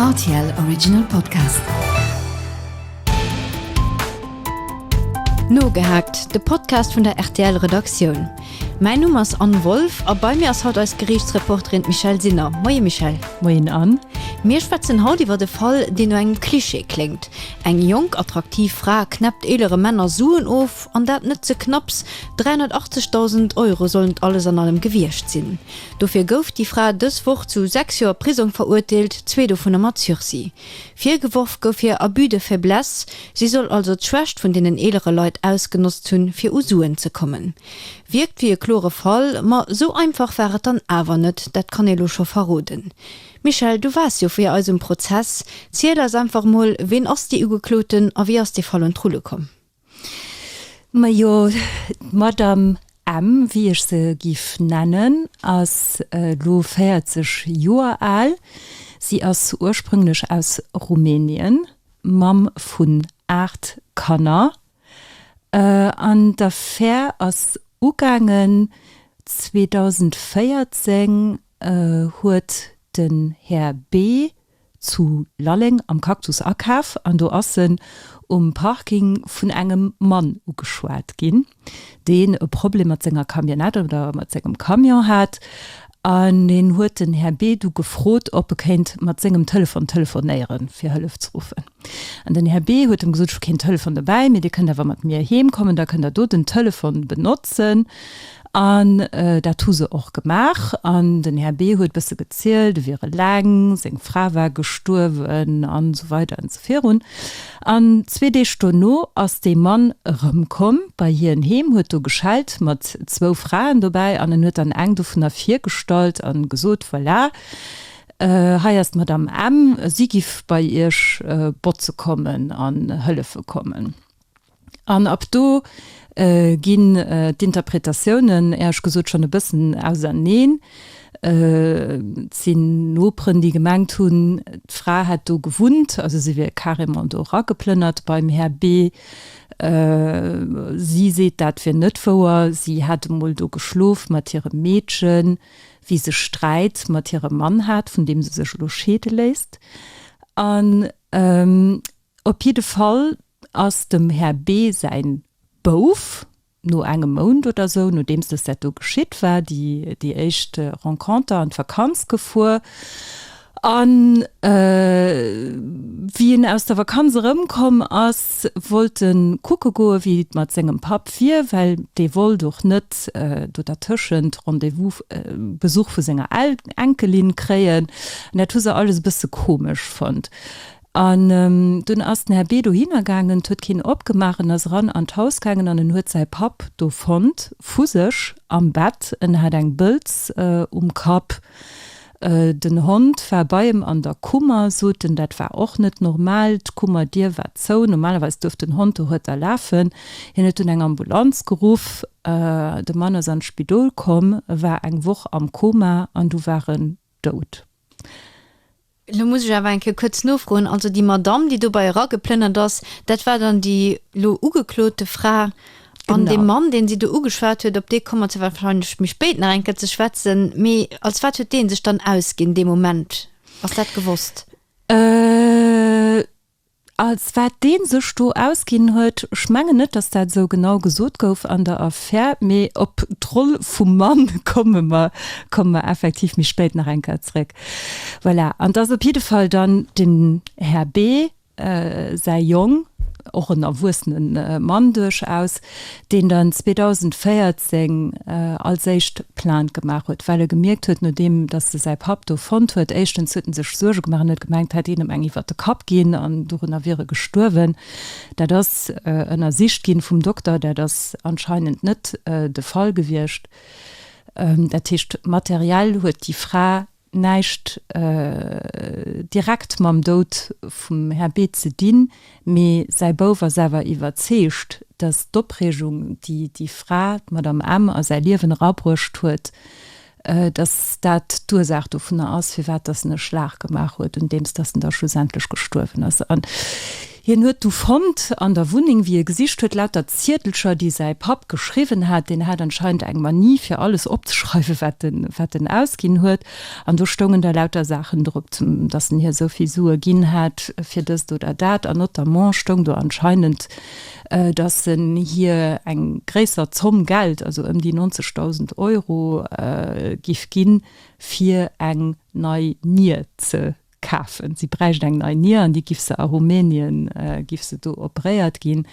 RTL Original Podcast. Nogehackt, de Podcast vun der RTL Redaktioun. Mäin Numm ass Anne Wolff a bei mir ass haut eis Geriichtsreporterin d'Michelle Sinner. Moie Michelle. Moien Anne. Mir schwätzen haut iwwer de Fall, deen no engem Klischee kléngt. Eng jonk, attraktiv Fra knäppt eelere Männer Suen of, an dat net ze knapps, 380.000 Euro sollen et alles an allem gewiescht sinn. Dofir gouf déi Fra dës Woch zu sechs Joer Prisong verurteelt, zwee dovunner mat Sursis. Virgeworf gouf hir Abus de faiblesse, si soll also d'Schwächt vun deenen eelere Leit ausgenotzt hunn, fir u Suen ze kommen. Wierkt wéi e klore Fall, ma sou einfach war et dann awer net, dat kann ee lo scho verroden. Michèle, du waars jo fir eis um Prozess, ziel eis einfach emol, ween ass dee Ugekloten a wéi ass dee Fall un d'Rulle komm? Majo, d'Madame M, wéi ech se giff nennen, ass elo 40 Joer al. Si ass ursprünglech aus Rumänien, Mamm vun 8 Kanner. An d'Affär ass ugaangen 2014, huet den Här B. zu Lalleng am Cactus akaf an do ass en um Parking vun engem Mann ugeschwat ginn, deen e Problem mat senger Camionnette oder mat sengem Camion hat an deen huet den Här B. du gefrot, ob e kéint mat sengem Telefon telefonéieren, fir Hëllef ze ruffen. An den Här B. huet dem gesot, Ech hu keen Telefon dobäi, mee Dir kënnt awer mat mir heem kommen, da kënnt Der do den Telefon benotzen. An dat hu se och gemaach. An den Här B. huet bësse gezielt, e wier eleng, seng Fra war gestuerwen an esou weider an esou virun. An zwee Deeg dono ass dee Mann erëmkomm bei hien heem, huet do geschellt mat zwou Fraen dobäi an en huet dann eng dovunner virgestallt an gesot, Voilà, Hei ass d'Madame M. Si giff bei Iech botze kommen an hëllefe kommen. An ab do ginn d'Interpretatiounen, Äerch gesot, schon e bëssen auserneen. Et sinn Noperen, déi gemengt hunn, d'Fra hätt do gewunnt, also si wier carrément do erageplënnert beim Här B. Si seet, dat wier net wouer. Si hätt emol do geschlof mat hirem Meedchen. wéi se Sträit mat hirem Mann hat, vun deem se sech elo scheede léisst. An op jidde Fall ass dem Här B. säi Bouf no engem Mount oder sou, nodeems dës dat do geschitt war, déi éischt Renconter an d'Vakanz gefuer. A wéi en aus der Vakanz erëmkomm ass, wollt e kucke goen, wéi et mat sengem Papp wier, well dee wollt och net do dertëschent Rendez-vous Besuch vu senger Enkelin kréien. An dat hu se alles e bësse komesch fonnt. An dunn ass den Här B. dohinner gaangen, 't huet keen opgemaach. En ass eran an d'Haus gaangen an en huet säi Papp do fonnt, vu sech am Bett. En hat eng Bëlz um Kapp. Den Hond war bei em an der Kummer, sot en. Dat war och net normal. D'Kummerdier war zou. Normalerweis duerf den Hond dohuerter lafen. Hien huet dunn eng Ambulanz geruff. De Mann ass an d'Spidol komm, war eng Woch am Koma an du war en dout. Elo muss ech awer eng Kéier kuerz nofroen. Also déi Madamm, déi dobäi erageplënnert ass, dat war dann déi elo ugeklote Fra An dee Mann, deen si do ugeschwat huet, op dee komme mer wahrscheinlech méi spéit nach eng Kéier ze schwätzen. Mee als wat huet dee sech dann ausginn, dee Moment? Ass dat gewosst? Als wat dee sech do ausginn huet? Ech mengen net, datt dat esou genau gesot gouf an der Affär. Mee op d'Roll vum Mann komme mer, komme mer effektiv méi spéit nach eng Kéier zrëck. Voilà. An 't ass op jidde Fall dann den Här B. säi Jong, och en erwuessene Mann duerchaus, deen dann 2014 als éischt Plainte gemaach huet, well e gemierkt huet, nodeem datt e säi Papp do fonnt huet, éischtens huet e sech Suerge gemaach an huet gemengt, hätt een em eng iwwert de Kapp ginn an dorunner wier e gestuerwen. Dat ass ënnersicht ginn vum Dokter, dat ass anscheinend net de Fall gewiescht. Dat heescht, materiell huet déi Fra näischt direkt mam Doud vum Här B. ze dinn, mee säi Bouf ass awer iwwerzeegt, datt d'Opreegung, déi déi Fra, d'Madame M. a säi Liewen erabruecht huet, datt dat d'Ursaach dovunner ass, firwat datt en e Schlag gemaach huet, un deems datt en da schlussendlech gestuerwen ass. Hien huet du fonnt an der Wunneng, wéi e gesicht huet, lauter Ziedelcher, déi säi Papp geschriwwen hat. Deen hat anscheinend eng Manie, fir alles opzeschreiwen, wat en ausginn huet. An do stoungen da lauter Saachen drop, dass en hir esou vill Sue ginn hat fir dëst oder dat. An notamment stoung do anscheinend, dass en hir eng gréisser Zomm Geld, also ëm déi 90.000 Euro, giff ginn, fir eng nei Nier ze Kafen. Si bräicht eng nei Nier an déi giff se a Rumänien, giff se do operéiert ginn.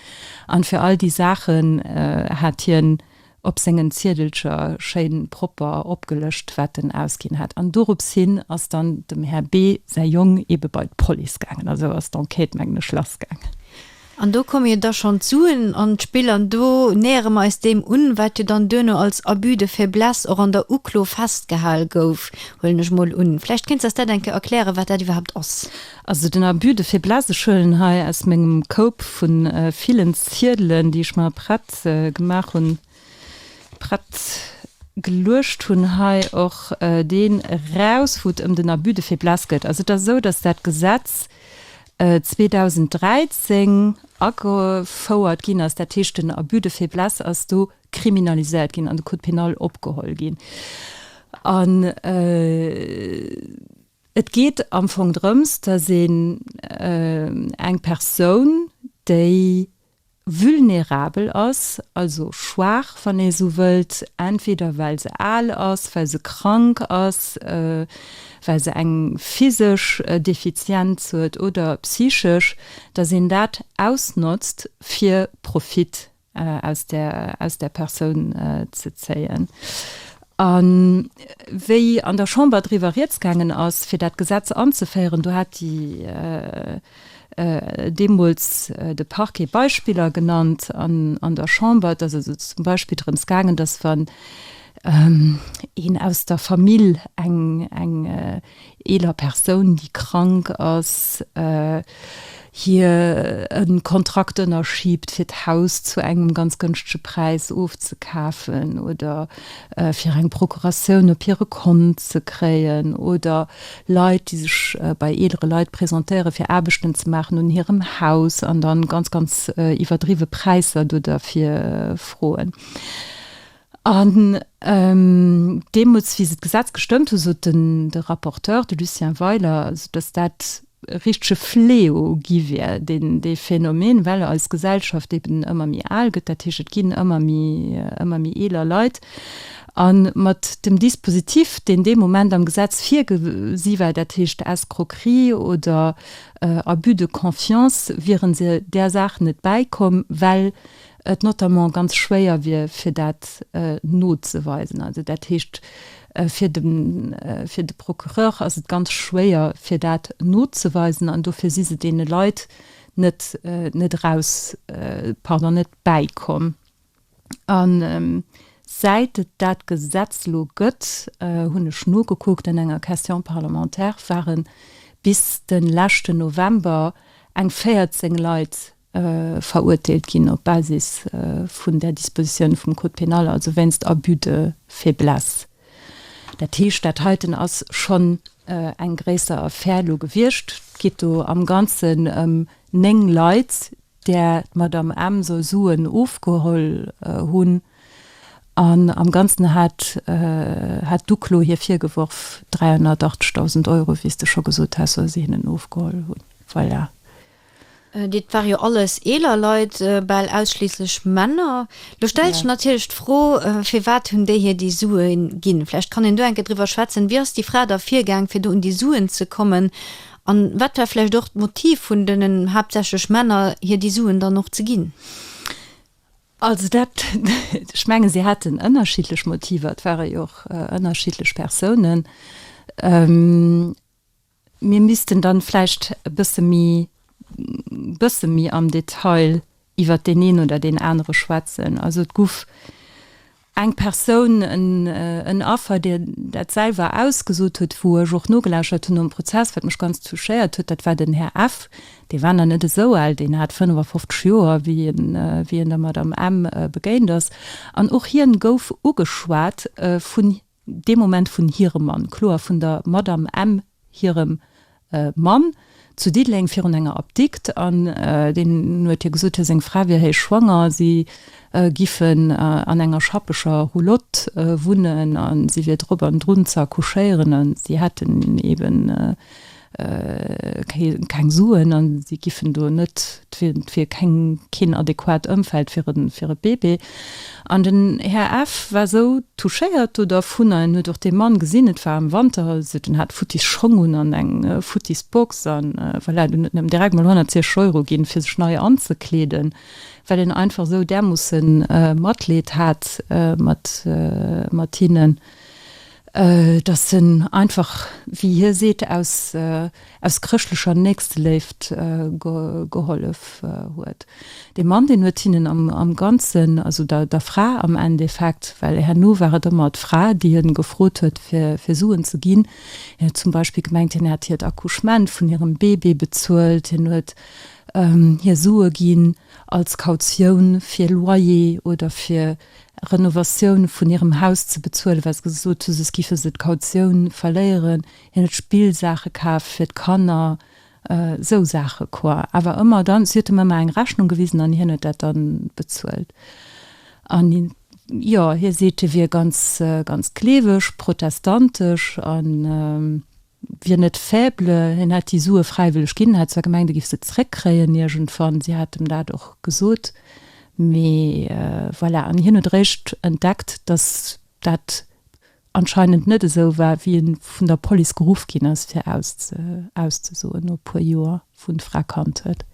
An fir all déi Saachen hat hien op sengen Ziedelcher schéin propper opgelëscht wat en ausginn hat. An dorups hin ass dann dem Här B. säi Jong ebe bei d'Police gaangen. Also ass d'Enquête mengen ech lass gaangen. An do komme jo da schonn d'Suen an d'Spill an do nähere mer eis deem un, wat jo dann duerno als Abus de faiblesse och an der Uklo festgehal gouf, huelen ech emol un. Vläicht kéints s dat eng Kéier erkläre wat dat iwwerhaapt ass. Also den Abus de faiblesse, ech huelen hei aus mengem Koup vu villen Ziedelen, déi ech mer prett gemaach hunn, prett geluecht hunn, hei och deen eraus, wou et ëm den Abus de faiblesse gëtt. Also et ass esou, datt dat Gesetz 2013 agefouert ginn ass, dat heescht den Abus de faiblesse ass do kriminaliséiert ginn an de Code pénal opgeholl ginn. An et geet am Fong drëms, dass een eng Persoun, déi Vulnerabel ass, also schwaach, wann ee sou wëllt, entweder well se al ass, well se krank ass, well se eng physesch Defizienz huet oder psychesch, datt een dat ausnotzt fir Profit aus där Persoun ze zéien. A wéi an der Chamber driwwer Rieds gaangen ass fir dat Gesetz anzeféieren, do hat déi. deemools de Parquet Beispiller genannt an der Chamber, dass et zum Beispill drëms gaangen ass, wann een aus der Famill eng eeler Persoun, déi krank ass, hir e Kontrakt ënnerschiebt, fir d'Haus zu engem ganz gënschtege Präis ofzekafen oder fir eng Procuratioun op hire Kont ze kréien oder Leit, déi sech bei eelere Leit presentéieren, fir Aarbechten ze maachen un hirem Haus an da ganz, ganz iwwerdriwwe Präisser do derfir froen. An deemools, wéi se d'Gesetz gestëmmt hunn, sot de Rapporteur, de Lucien Weiler, also datt dat e richtege Fléau gi wier, dee Phänomen, well eis Gesellschaft eeben ëmmer méi al gëtt. Dat heescht, et ginn ëmmer méi eeler Leit. A mat dem Dispositif, deen dee Moment am Gesetz virgesi war, dat heescht Escroquerie oder Abus de confiance, wiere se där Saach net bäikomm, well et notamment ganz schwéier wier, fir dat nozeweisen. Also dat heescht, fir de Procureur ass et ganz schwéier, fir dat nozeweisen, an dofir si se deene Leit net eraus, pardon, net bäikomm. A säit et dat Gesetz lo gëtt, hunn ech nogekuckt, an enger Question parlementaire ware bis de leschten November eng 14 Leit verurteelt ginn op Basis vun där Dispositioun vum Code pénal, also wéinst Abus de faiblesse. Dat heescht, dat heiten ass schonn eng gréisser Affär lo gewiescht. Et geet do am Ganzen ëm néng Leit, där d'Madamm M. soll Suen ofgeholl hunn, an am Ganzen hat hat d'Uklo hir virgeworf 380.000 Euro, wéi s de scho gesot has, soll se hinnen ofgeholl hunn. Voilà. Dit ware jo alles eeler Leit, bal ausschliisslech Männer. Lo stellt sech natierlech d'Fro, Firwat hunn déi hir déi Sue ginn? Vläicht kann een do enke driwwer schwätzen. Wéi ass déi Fra da virgaang, fir do un déi Suen ze kommen? An wat war vläicht och d'Motiv vun denen haaptsächlech Männer hir déi Suen dann och ze ginn? Also dat, ech mengen se haten ënnerschiddlech Motiver, et ware jo och ënnerschiddlech Persounen. Mir missten dann vläicht e bësse méi, bësse méi am Detail iwwert deen een oder deen anere schwätzen. Also et guff eng Persoun, en Affer, déi dat selwer ausgesot huet, wou ech och nogelauschert hunn nom Prozess, wat mech ganz touchéiert huet, dat war den Här F. Dee war nach net esou al, deen hat 55 Joer, wéi en der Madame M. begéint ass. An och hien gouf ugeschwat vun. dee Moment vun hirem Mann, kloer vun der Madamm M. hirem Mann, zu Diddeleng virun enger Apdikt, an deen huet hir gesot, hir seng Fra wier héich schwanger, si giffen an enger schappeger Roulotte wunnen, a si wier drop an drun ze accouchéieren, a si hätten eben. kréien keng Suen an si giffen do net fir keng keen adequat Ëmfeld fir e fir e Bébé. An den Här F. war esou touchéiert do dervun an en huet och dee Mann gesinn, et war am Wanter, an sot en hat futtis Schong un an eng futtis Box an voilà, den huet em direkt mol 160 Euro ginn fir sech nei anzekleeden, well en einfach esou därmoosse Matleed hat mat mat hinnen. dass en einfach, wéi hie seet, aus chrëschtlecher Nächsteléift gehollef huet. Dee Mann, deen huet hinnen am Ganzen, also der Fra am Endeffekt, well herno war et ëmmer d'Fra, déi e gefrot huet, fir Suen ze ginn, hien huet zum Beispill gemengt, hien hätt hiert Accouchement vun hirem Bébé bezuelt, hien huet hir Sue ginn als Kautioun fir Loyer oder fir Renovatioun vun hirem Haus ze bezuelen, well se gesot hu soss gife se d'Kautioun verléieren. Hien huet Spillsaache kaf fir d'Kanner, esou Saache quoi. Awer ëmmer dann, si huet him ëmmer eng Rechnung gewisen an hien huet dat da bezuelt. An jo, hie seet, hie wier ganz, ganz gleeweg, protestantesch an. wier net faible, hien hätt déi Sue fräiwëlleg ginn, hätt zwar gemengt, e giff se zréckkréien iergendwann, si hätt em dat och gesot, mee voilà. An hien huet eréischt entdeckt, datt dat anscheinend net esou war, wéi e vun der Police geruff ginn ass, fir auszesoen, no e puer Joer, wou en d'Fra kannt huet.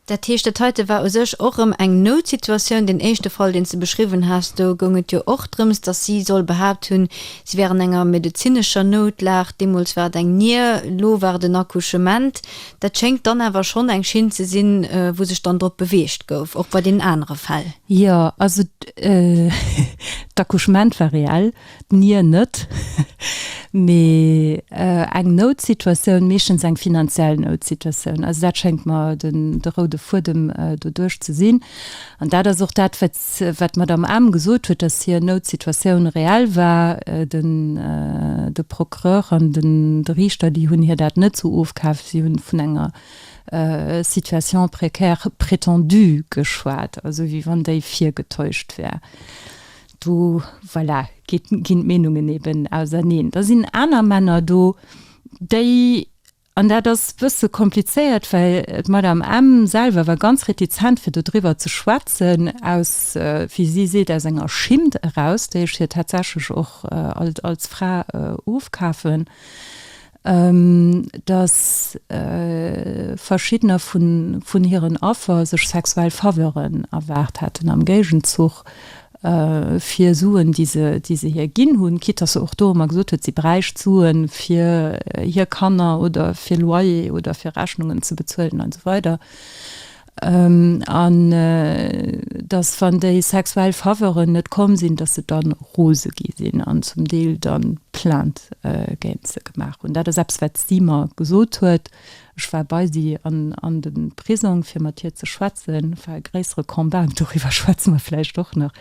Dat heescht, dat heite war u sech och erëm eng Noutsituatioun. Deen éischte Fall, deen s de beschriwwen has, do goung et jo och drëms, datt si soll behaapt hunn, si wär an enger medezinescher Noutlag. Deemools war et eng Nier, elo war et en Accouchement. Dat schéngt dann awer schonn eng Schinn ze sinn, wou sech dann drop beweegt gouf, och bei deenen anere Fäll. Jo, also d'Accouchement war reell. D'Nier net, mee eng Noutsituatioun, meeschtens eng finanziell Noutsituatioun. Also dat schéngt mer de roude Fuedem doduerch ze sinn. An dat ass och dat, wat d'Madamm Ahm gesot huet, dass hir Noutsituatioun reell war. De Procureur an de Riichter, déi hunn hir dat net sou ofkaaft. Si hu vun enger Situation précaire prétendue geschwat, also wéi wann déi virgetäuscht wär. Do, voilà, ginn d'Meenungen eben auserneen. Da sinn aner Männer do, déi, an dat ass e bësse komplizéiert, well d'Madame M. selwer war ganz retizent, fir dodriwwer ze schwätzen, aus, wéi si seet, aus enger Schimmt eraus, déi ech hir tatsächlech och als Fra ofkafen. datt verschiddener vun hiren Affer sech sexuell Faveuren erwaart hätten am Géigenzuch fir Suen, déi se hir ginn hunn, quitt datt se och do ëmmer gesot huet, si bräicht d'Sue fir hir Kanner oder fir Loyer oder fir Rechnungen ze bezuelen an esou weider. An dass, wann déi sexuell Faveuren net komm sinn, dass se dann rose gi sinn an zum Deel dann Plainte géint se gemaach hunn. Dat ass eppes, wat si mer gesot huet. Ech war bei si an de Prisong, fir mat hir ze schwätzen. Et war e gréissere Combat, doriwwer schwätze mer vläicht och nach.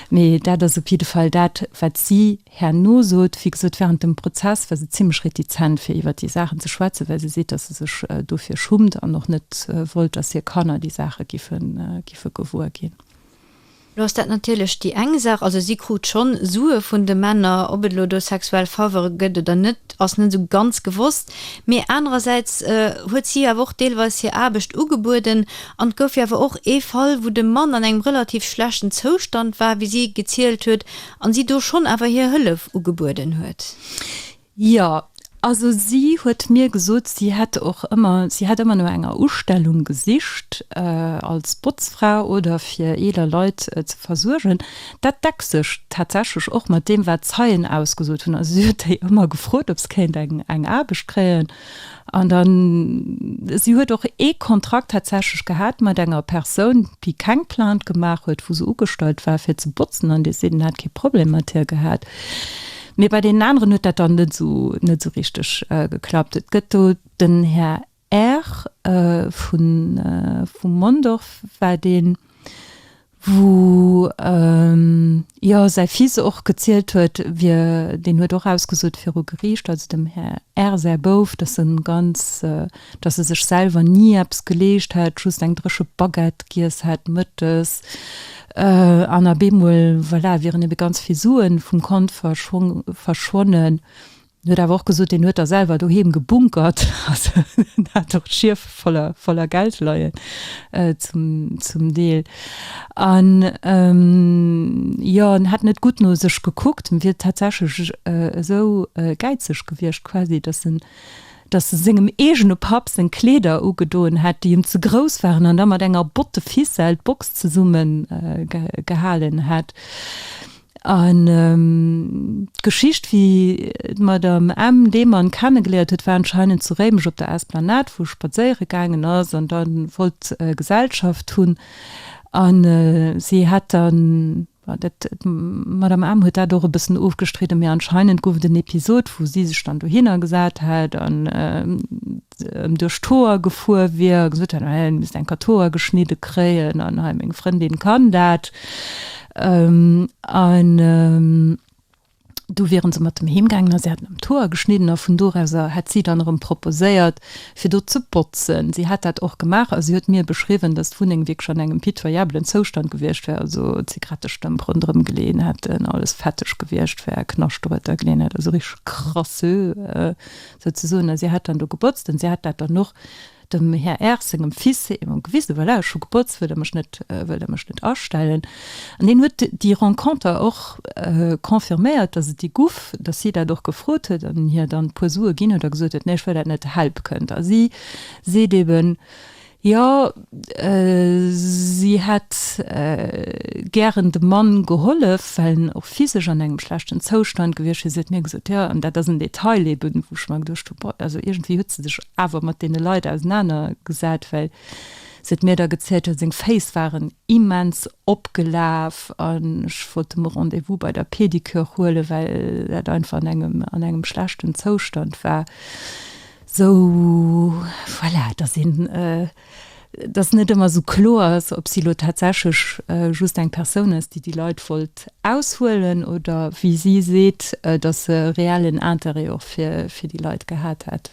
Mee dat ass op jidde Fall dat, wat si Herno sot d'Ffi, gesot während dem Prozess war se zimmlech retizent fir iwwert déi Saachen ze schwätzen, well se seet, datt se sech dofir schummt an och net wollt, datt hir Kanner déi Saache giffe gewuer ginn. Lo ass dat natierlech déi eng Saach, also si krut schonn Sue vun de Männer, ob et elo do sexuell Favere gëtt oder net, ass net esou ganz gewosst, mee anerersäits huet si awer och deelweis hir Aarbecht ugebueden an et gouf jo awer och ee Fall, wou de Mann an engem relativ schlechten Zoustand war, wéi si gezielt huet, An si do schonn awer hir Hëllef ugebueden huet? Jo. Also si huet mir gesot, si hätt och ëmmer, si hätt ëmmer no enger Ustellung gesicht als Botzfra oder fir eeler Leit ze versuergen. Dat deckt sech tatsächlech och mat deem, wat Zeien ausgesot hunn. Also si huet déi ëmmer gefrot, ob se kéint eng Aarbecht kréien. An dann, si huet och ee Kontrakt tatsächlech gehat mat enger Persoun, déi keng Plainte gemaach huet, wou se ugestallt war, fir ze botzen, an dee seet, en hätt kee Problem mat hir gehat. Mee bei deenen aneren huet dat dann net esou, net esou richteg geklappt. Et gëtt do den Här Err vu, vum Mondorf war deen, wou jo säi Fils och gezielt huet, wier, deen huet och ausgesot viru Geriicht, also dem Här R. säi Bouf, datt e ganz, datt e sech selwer ni eppes geleescht hätt, just eng dréche Baguette giess hätt mëttes, an op eemol, voilà, wieren ebe ganz vill Suen vum Kont verschwonnen. En huet awer och gesot, deen huet da selwer doheem gebunkert, also en hat och d'Schief voller Geld leien zum Deel. An jo, en hätt net gutt no sech gekuckt, en wier tatsächlech esou gäizeg gewiescht quasi, datt en sengem eegene Papp seng Kleeder ugedoen hätt, déi em ze grouss waren, an da mat enger Botte Ficelle d'Box zesummegehalen hätt. An d'Geschicht, wéi d'Madame M. dee Mann kennegeléiert huet, war anscheinend zu Réimech op der Esplanade, wou e spadséiere gaangen ass an da wollt Gesellschaft hunn. An si hätt dann, dat, d'Madame M. huet dat och e bëssen ofgestridden, mee anscheinend gouf et en Episod, wou si sech dann dohinner gesat hätt an, ëm duerch d'Hoer gefuer wier, gesot hätt, hien misst enker d'Hoer geschnidde kréien an hei meng Frëndin kann dat. An du wieren se mat em heem gaangen a si hätten em d'Hoer geschnidden a vun do eraus hätt si dann erëm proposéiert, fir do ze botzen. Si hätt dat och gemaach a si huet mir beschriwwen, dass d'Wunneng wierklech an engem pitoyabelen Zoustand gewiescht wär, also Zigarettestëmp ronderëm geleeën hätten, alles fetteg gewiescht wär, Knaschteroter geleeën hätt, also richteg crasseux sou ze soen, a si hätt dann do gebotzt an si hätt dat dann och dem Här R. sengem Fils eben gewisen, voilà, ech hu gebotzt, wëllt Der mech net, wëllt Der mech net astellen? An deen huet déi Renconter och confirméiert, dass et déi guff, dass si dat och gefrot huet an en hir dann e puer Sue ginn huet a gesot huet, nee, ech wëll dat net, help kënnt. A si seet eben, Jo, si hätt gären dem Mann gehollef, well en och physesch an engem schlechten Zoustand gewiescht wier. Si huet mir gesot, jo, an dat ass en Detail eben, wou ech mer geduecht hunn, boah, also iergendwéi huet se sech awer mat deene Leit ausenanergesat, well si huet mir da gezielt, jo, seng Féiss waren immens opgelaf an ech wollt dem e Rendez-vous bei der Pedicure huelen, well dat einfach an engem schlechten Zoustand war. Sou, voilà, dass een, dass net ëmmer sou kloer ass, ob si lo tatsächlech just eng Persoun ass, déi déi Leit wollt aushuelen oder wéi si seet, dass se reellen Intérêt och fir déi Leit gehat hätt.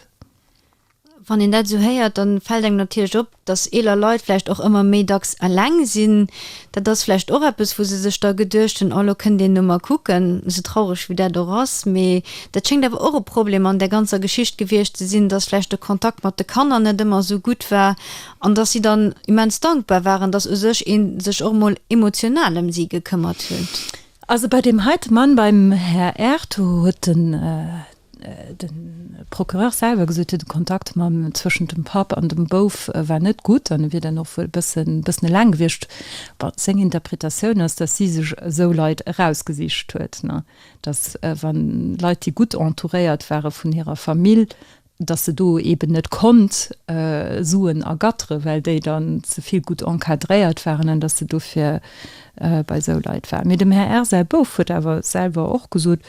Wann een dat esou héiert, da fält engem natierlech op, dass eeler Leit vläicht och ëmmer méi dacks eleng sinn, dat ass vläicht och eppes, wou se sech da geduecht hunn, oh elo kënnt een no mer kucken, esou traureg wéi dat och ass. Mee dat schéngt awer och e Problem an där ganzer Geschicht gewiescht ze sinn, dass vläicht de Kontakt mat de Kanner net ëmmer esou gutt war an dass si dann immens dankbar waren, dass u sech ee sech och emol emotional ëm si gekëmmert huet. Also bei deem heite Mann, beim Här Ertug, huet den. De Procureur selwer gesot huet, de Kontakt mam zwëschent dem Papp an dem Bouf war net gutt an e wier dann och wuel e bëssen e bëssen eleng gewiescht. Bon, seng Interpretatioun ass, datt si sech esou Leit erausgesicht huet, datt wann Leit, déi gutt entouréiert ware vun hirer Famill, datt se do eeben net konnt Suen ergattere well déi dann ze vill gutt encadréiert waren an datt se dofir bei esou Leit war. Mee dem Här R. säi Bouf huet awer selwer och gesot,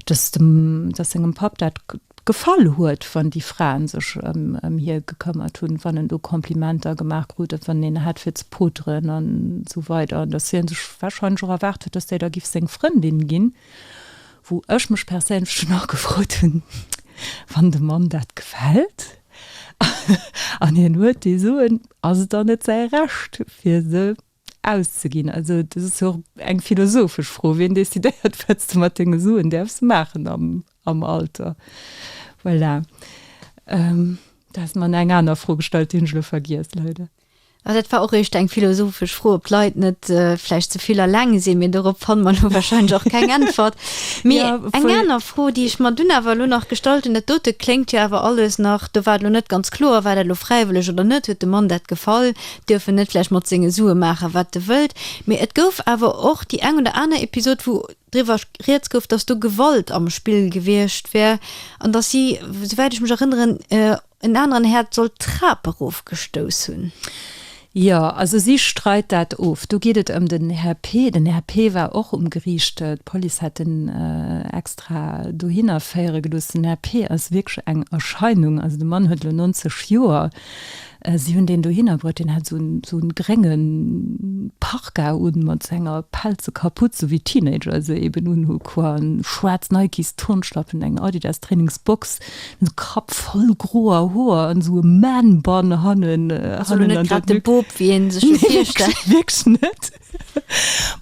dass dem, dass sengem Papp dat gefall huet, wann déi Fraen sech ëm hie gekëmmert hunn, wann en do Komplimenter gemaach krut, dat wann en hat fir ze poteren an esou weider, an dass hie sech warscheinlech och erwaart huet, dass déi da giff seng Frëndin ginn, wou ech mech perséinlech dunn och gefrot hunn, wann dem Mann dat gefält an hien huet déi Suen, ass et dann net säi Recht fir se Auszeginn. Also dat ass jo och eng philosophesch Fro, wien decidéiert, wat s de mat denge Suen däerfs maachen am Alter? Voilà. Du has mer eng aner Fro gestallt, déi hunn ech elo vergiess, leider. Jo, dat war och eréischt eng philosophesch Fro, ob d'Leit net vläicht ze vill alleng sinn, mee dorop fanne mer elo warscheinlech och keng Äntwert. Mee eng aner Fro, déi ech mer dunn awer elo nach gestallt hunn, dat dote kléngt jo awer alles nach, do war et elo net ganz kloer, war dat elo fräiwëlleg oder net, huet de Mann dat gefall, duerfen net vläicht mat senge Sue maachen, wat e wëllt, mee et gouf awer och déi eng oder aner Episod, wou driwwer rieds gouf, dass do Gewalt am Spill gewiescht wär an dass si, souwäit ech mech erënneren, en aneren Här soll d'Trap erofgestouss hunn. Jo, also si streit dat of. Do geet et ëm den Här P. Den Här P. war och um Geriicht. D'Police hätt en extra dohinner féiere gelooss. Den Här P. ass wierklech eng Erscheinung. Also de Mann huet elo 90 Joer. Si hunn deen dohinner bruet, deen hat esou en grénge Parka un, mat esou enger pelze Kaputz, esou wéi Teenager se eben unhu quan, schwaarz Nikes Turnschlappen, eng Adidas Trainingsbox, de Kapp voll groer Hoer an esou e Man Bun hannen. Ass elo net grad de Bop, wéi ee sech dee virstellt. Nee, wierklech net.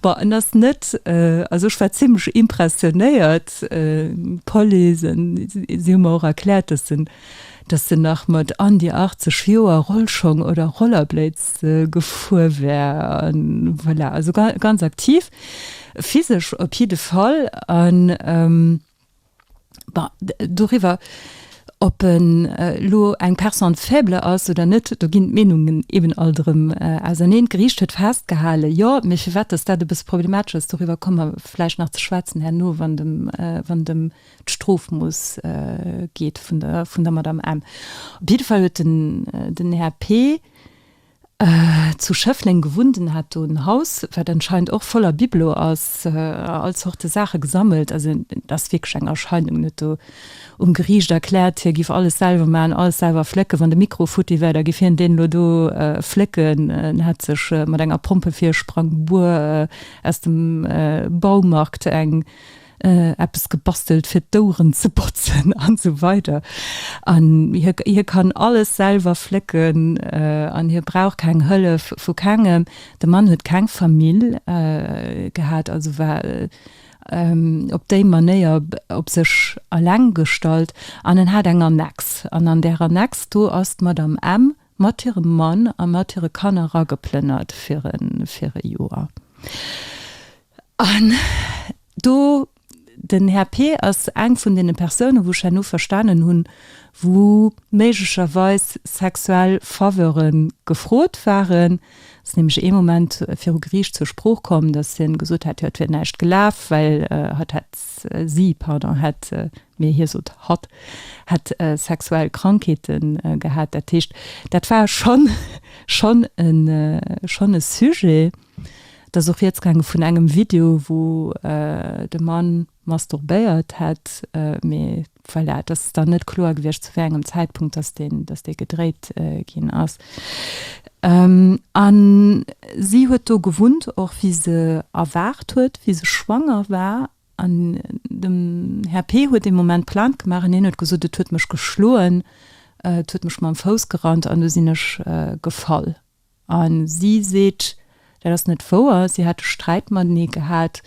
Bon, en ass net, also ech war zimlech impressionéiert. D'Police, si hu mer och erkläert, dass en dass en nach mat an déi 80 Joer Rollschong oder Rollerblades gefuer wär an voilà, also ganz aktiv, physesch op jidde Fall an bon, doriwwer ob en elo eng Personne faible ass oder net, do ginn d'Meenungen eben alt erëm auserneen. D'Geriicht huet festgehalen, jo, mee firwat dass dat e bësse problematesch ass, doriwwer komme mer vläicht nach ze schwätzen herno, wann dem, wann dem, D'Strof muss geet vun der vun der Madame M. Op jidde Fall huet den den Här P. zu Schëffleng gewunnt. En hat do en Haus, wat anscheinend och voller Bibelo ass a all Zorte Saache gesammelt. Also et ass wierklech eng Erscheinung. En huet do um Geriicht erkläert, hie giff alles selwer maachen, alles selwer flécken. Wann de Mikro futti wär, da giff hien deen elo do flécken. En hätt sech mat enger Pompefirsprangbur aus dem Baumarkt eng. eppes gebastelt fir d'Oueren ze botzen an esou weider an hie kann alles selwer flécken an hie brauch keng Hëllef vu kengem. De Mann huet keng Famill gehat, also war op déi Manéier op sech eleng gestallt an en hat eng Annex an an där Annex do ass d'Madame M. mat hirem Mann a mat hire Kanner rageplënnert fir e Joer. An do, den Här Peer ass eng vun deene Persounen, wou ech herno verstanen hunn, wou méiglecherweis sexuell Faveure gefrot waren. Ass nämlech ee Moment viru Geriicht zur Sprooch komm, dass hien gesot hätt, jo et wier näischt gelaf, well hatt hätt, si, pardon, hätt, mee hie sot hatt, hätt sexuell Krankheete gehat. Dat heescht, dat war schonn, schonn e, schonn e Sujet. Et ass och rieds gaange vun engem Video, wou de Mann masturbéiert hätt. Mee voilà, et ass dann net kloer gewiescht, zu wéi engem Zäitpunkt dass deen, dass dee gedréit ginn ass. A si huet do gewunnt, och wéi se erwaart huet, wéi se schwanger war. An dem Här P. huet dee Moment Plainte gemaach an hien huet gesot, Et huet mech geschloen, et huet mech mam Fouss gerannt an do sinn ech gefall. A si seet, dat ass net wouer, si hätte Sträit matenee gehat,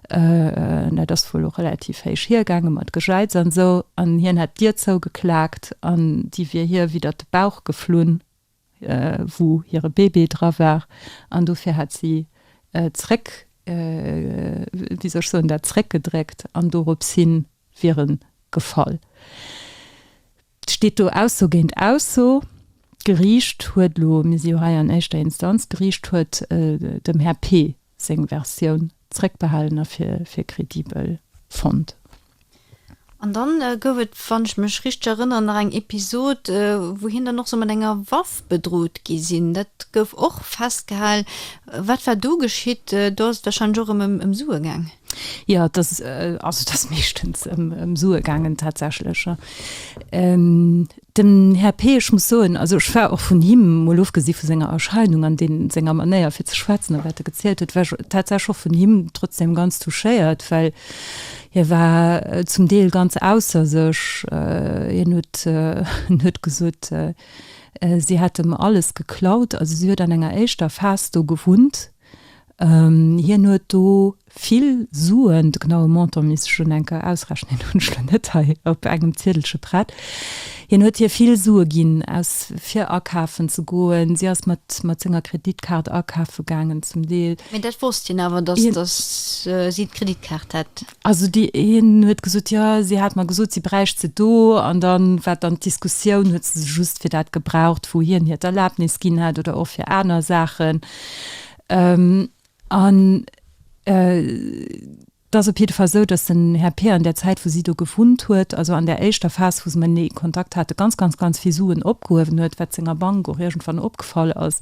dat ass wuel och relativ héich hiergaange mat Gejäiz an esou, an hien hätt d'Dier zougeklaakt an déi wier hir widdert de Bauch geflunn, wou hire Bébé dra war, an dofir hätt si zréck, wéi soll ech soen, dat zréckgedréckt an doropshin wier e gefall. Et steet do Ausso géint Ausso. D'Geriicht huet elo, mir si jo hei an éischter Instanz, d'Geriicht huet dem Här P. seng Versioun zréckbehalen a fir kredibel fonnt. An dann gouf et, wann ech mech richteg erënneren, nach eng Episod, wou hien dann och sou mat enger Waff bedrot gi sinn. Dat gouf och festgehal. Wat war do geschitt? Do ass et warscheinlech och erëm ëm Sue gaang. Jo, et ass, also et ass meeschtens ëm Sue gaangen tatsächlech, jo. Den Här P, ech muss soen, also ech war och vun him, mol ofgesi vu senger Erscheinung an deem senger Manéier fir ze schwätzen a wat e gezielt huet, war ech tatsächlech och vun him trotzdeem ganz touchéiert, well hie war zum Deel ganz ausser sech. Hien huet, en huet gesot, si hätt em alles geklaut, also si huet an enger éischter Phas do gewunnt, Hien huet do vill Suen, de genaue Montant misst ech un enker ausrechnen, deen hunn ech elo net hei op engem Ziedelche prett, hien huet hir vill Sue ginn, aus fir akafen ze goen. Si ass mat mat senger Kreditkaart akafe gaangen zum Deel. Mee dat wosst hien awer, dass si d'Kreditkaart hätt? Also dee een huet gesot, jo, si hat mer gesot, si bräicht se do. An da war dann d'Diskussioun, huet se se just fir dat gebraucht, wou hien hir d'Erlabnis ginn hat oder och fir aner Saachen. An et ass op jidde Fall esou, datt den Här Peer an där Zäit, wou si do gewunnt huet, also an där éischter Phas, wou se matenee Kontakt hate, ganz, ganz, ganz vill Suen opgehuewen huet, wat senger Bank och iergendwann opgefall ass.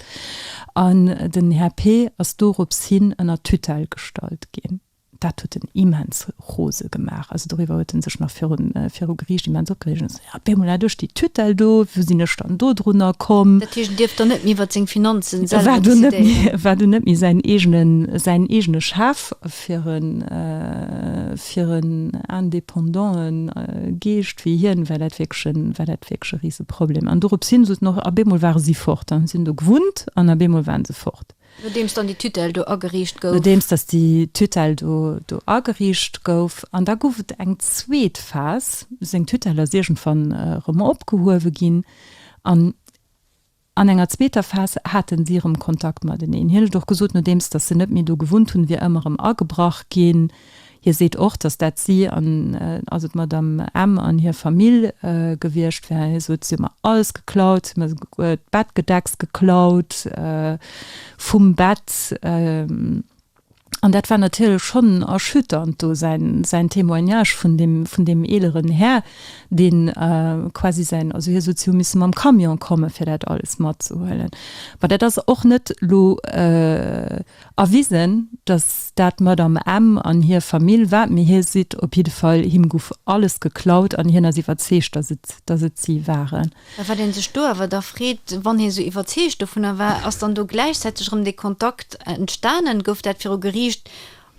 An den Här Peer ass dorops hin ënner Tutelle gestallt ginn. Dat huet en immens rose gemaach. Also doriwwer huet en sech nach virun, viru Geriicht immens opgereegt an gesot, op eemol hat ech déi Tutelle do, wou sinn ech dann do drunner komm? Dat heescht, en dierf dann net méi iwwert seng Finanzen selwer decidéieren? War dunn net méi säin eegenen, säin eegene Chef? Fir en, fir en indépendante Geescht wéi hien war dat wierklech e, war dat wierklech e Riseproblem. An dorops hin soten och, op eemol ware si fort. Dann hu si do gewunnt an op eemol waren se fort. Nodeems dann déi Tutelle do ageriicht gouf. Nodeems dass déi Tutelle do ageriicht gouf. An da gouf et eng zweet Phas. Seng Tutelle ass iergendwann erëm opgehuewe ginn. An an enger zweeter Phas haten si erëm Kontakt mateneen. Hien huet och gesot, nodeems dass se net méi do gewunnt hunn, wier ëmmer erëm agebrach ginn. Hie seet och, datt dat si, also d'Madame M. an hir Famill gewiescht wären. Hie sot, Si hu mer alles geklaut. Si hu mer souguer d'Bettgedecks geklaut vum Bett. An dat war natierlech schonn erschütternd do, säin Témoignage vun deem eeleren Här, deen quasi säin, also hie sot, si hu misse mam Camion komme fir dat alles matzehuelen. Mä dat ass och net elo Erwisen, dass dat d'Madame M. an hir Famill war, mee hie sidd op jidde Fall, him guff alles geklaut an hien ass iwwerzeegt, dass et, dass et si waren. Mä wat ee sech do awer da freet, wann hie sou iwwerzeegt dovunner war, ass dann do gläichzäiteg erëm dee Kontakt entstanen? Gouf dat viru Geriicht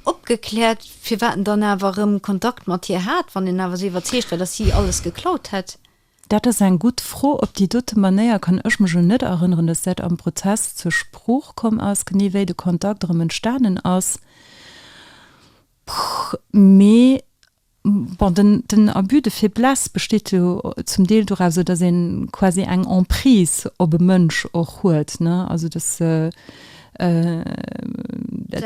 opgekläert, firwat en dann awer erëm Kontakt mat hir hat, wann en awer sou iwwerzeegt war, dass si alles geklaut hätt? Dat ass eng gutt Fro. Op déi dote Manéier kann ech mech elo net erënneren, dass dat am Prozess zur Sprooch komm ass, genee wéi de Kontakt erëm entstanen ass. Mee bon, den, den Abus de faiblesse besteet jo zum Deel doraus, esou dass een quasi eng Emprise op e Mënsch och huet, ne, also dass, dat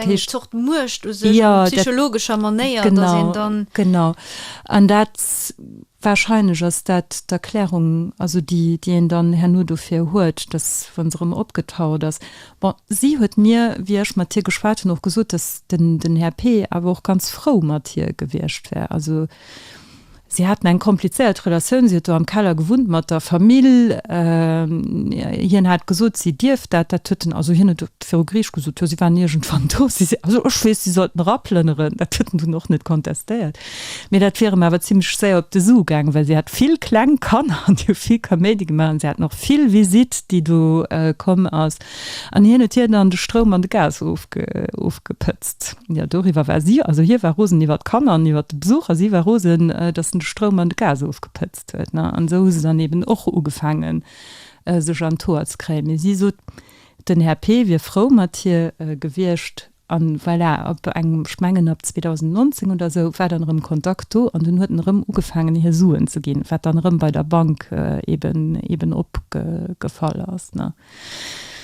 heescht. Eng Zort Muecht u sech op psychologescher Manéier, dass een dann. Genau, an dat. Wahrscheinlech ass dat d'Erklärung, also déi, déi een dann herno dofir huet, dass, wa se rëm opgetaucht ass, bon, si huet mir, wéi ech mat hir geschwat hunn, och gesot, dass den, den Här Peeh awer och ganz frou mat hir gewiescht wär. Also si haten eng komplizéiert Relatioun, si huet do am Keller gewunnt mat der Famill. Hien hat gesot, si dierft dat, dat huet en, also hien huet et viru Geriicht gesot, jo, si waren iergendwann do, si, also ech weess, si sollten eraplënneren, dat huet en dunn och net kontestéiert. Mee dat wier em awer zimmlech séier op de Su gaangen, well si hat vill kleng Kanner an déi hu vill Kaméidi gemaach an si haten och vill Visite, déi do komm ass an hien huet hir dann de Stroum an de Gas ofgepëtzt. Jo, doriwwer war si, also hie war rosen iwwer d'Kanner an iwwer de Besuch a si war rosen, dass en de Stroum an de Gas ofgepëtzt huet. No an esou hu se dann eben och ugefaangen, sech an d'Hoer ze kréien. Mee si sot, den Här P. wier frou mat hir gewiescht. An voilà, op eng, ech mengen ab 2019 oder esou, war dann erëm Kontakt do an dunn huet en erëm ugefaangen hir Suen ze ginn, wat dann erëm bei der Bank eben, eben opgefall ass, ne.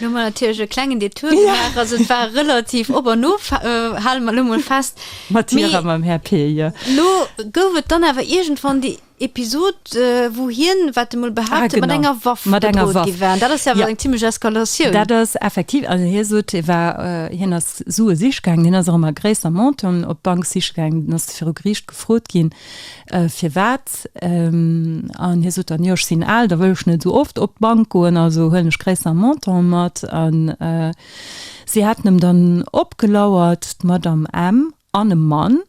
Do hu mer natierlech e klengen Detour gemaach, also et war relativ op an of, hale mer elo mol fest. Mat hir a mam Här Pir, jo. Elo gouf et dann awer iergendwann déi Episod wou hien, wat e mol behaapt huet, mat enger Waff bedrot gi war. Dat ass jo awer eng zimmlech Eskalatioun. Dat ass effektiv, also hie sot hie war, hien ass Sue siche gaangen, hien ass och ëmmer gréisser Monten op d'Bank siche gaangen, dann ass e viru Geriicht gefrot ginn firwat an hie sot dann, jo ech sinn al, da wëll ech net esou oft op d'Bank goen, also huelen ech gréisser Monten mat. An si haten em dann opgelauert, d'Madame M. an e Mann,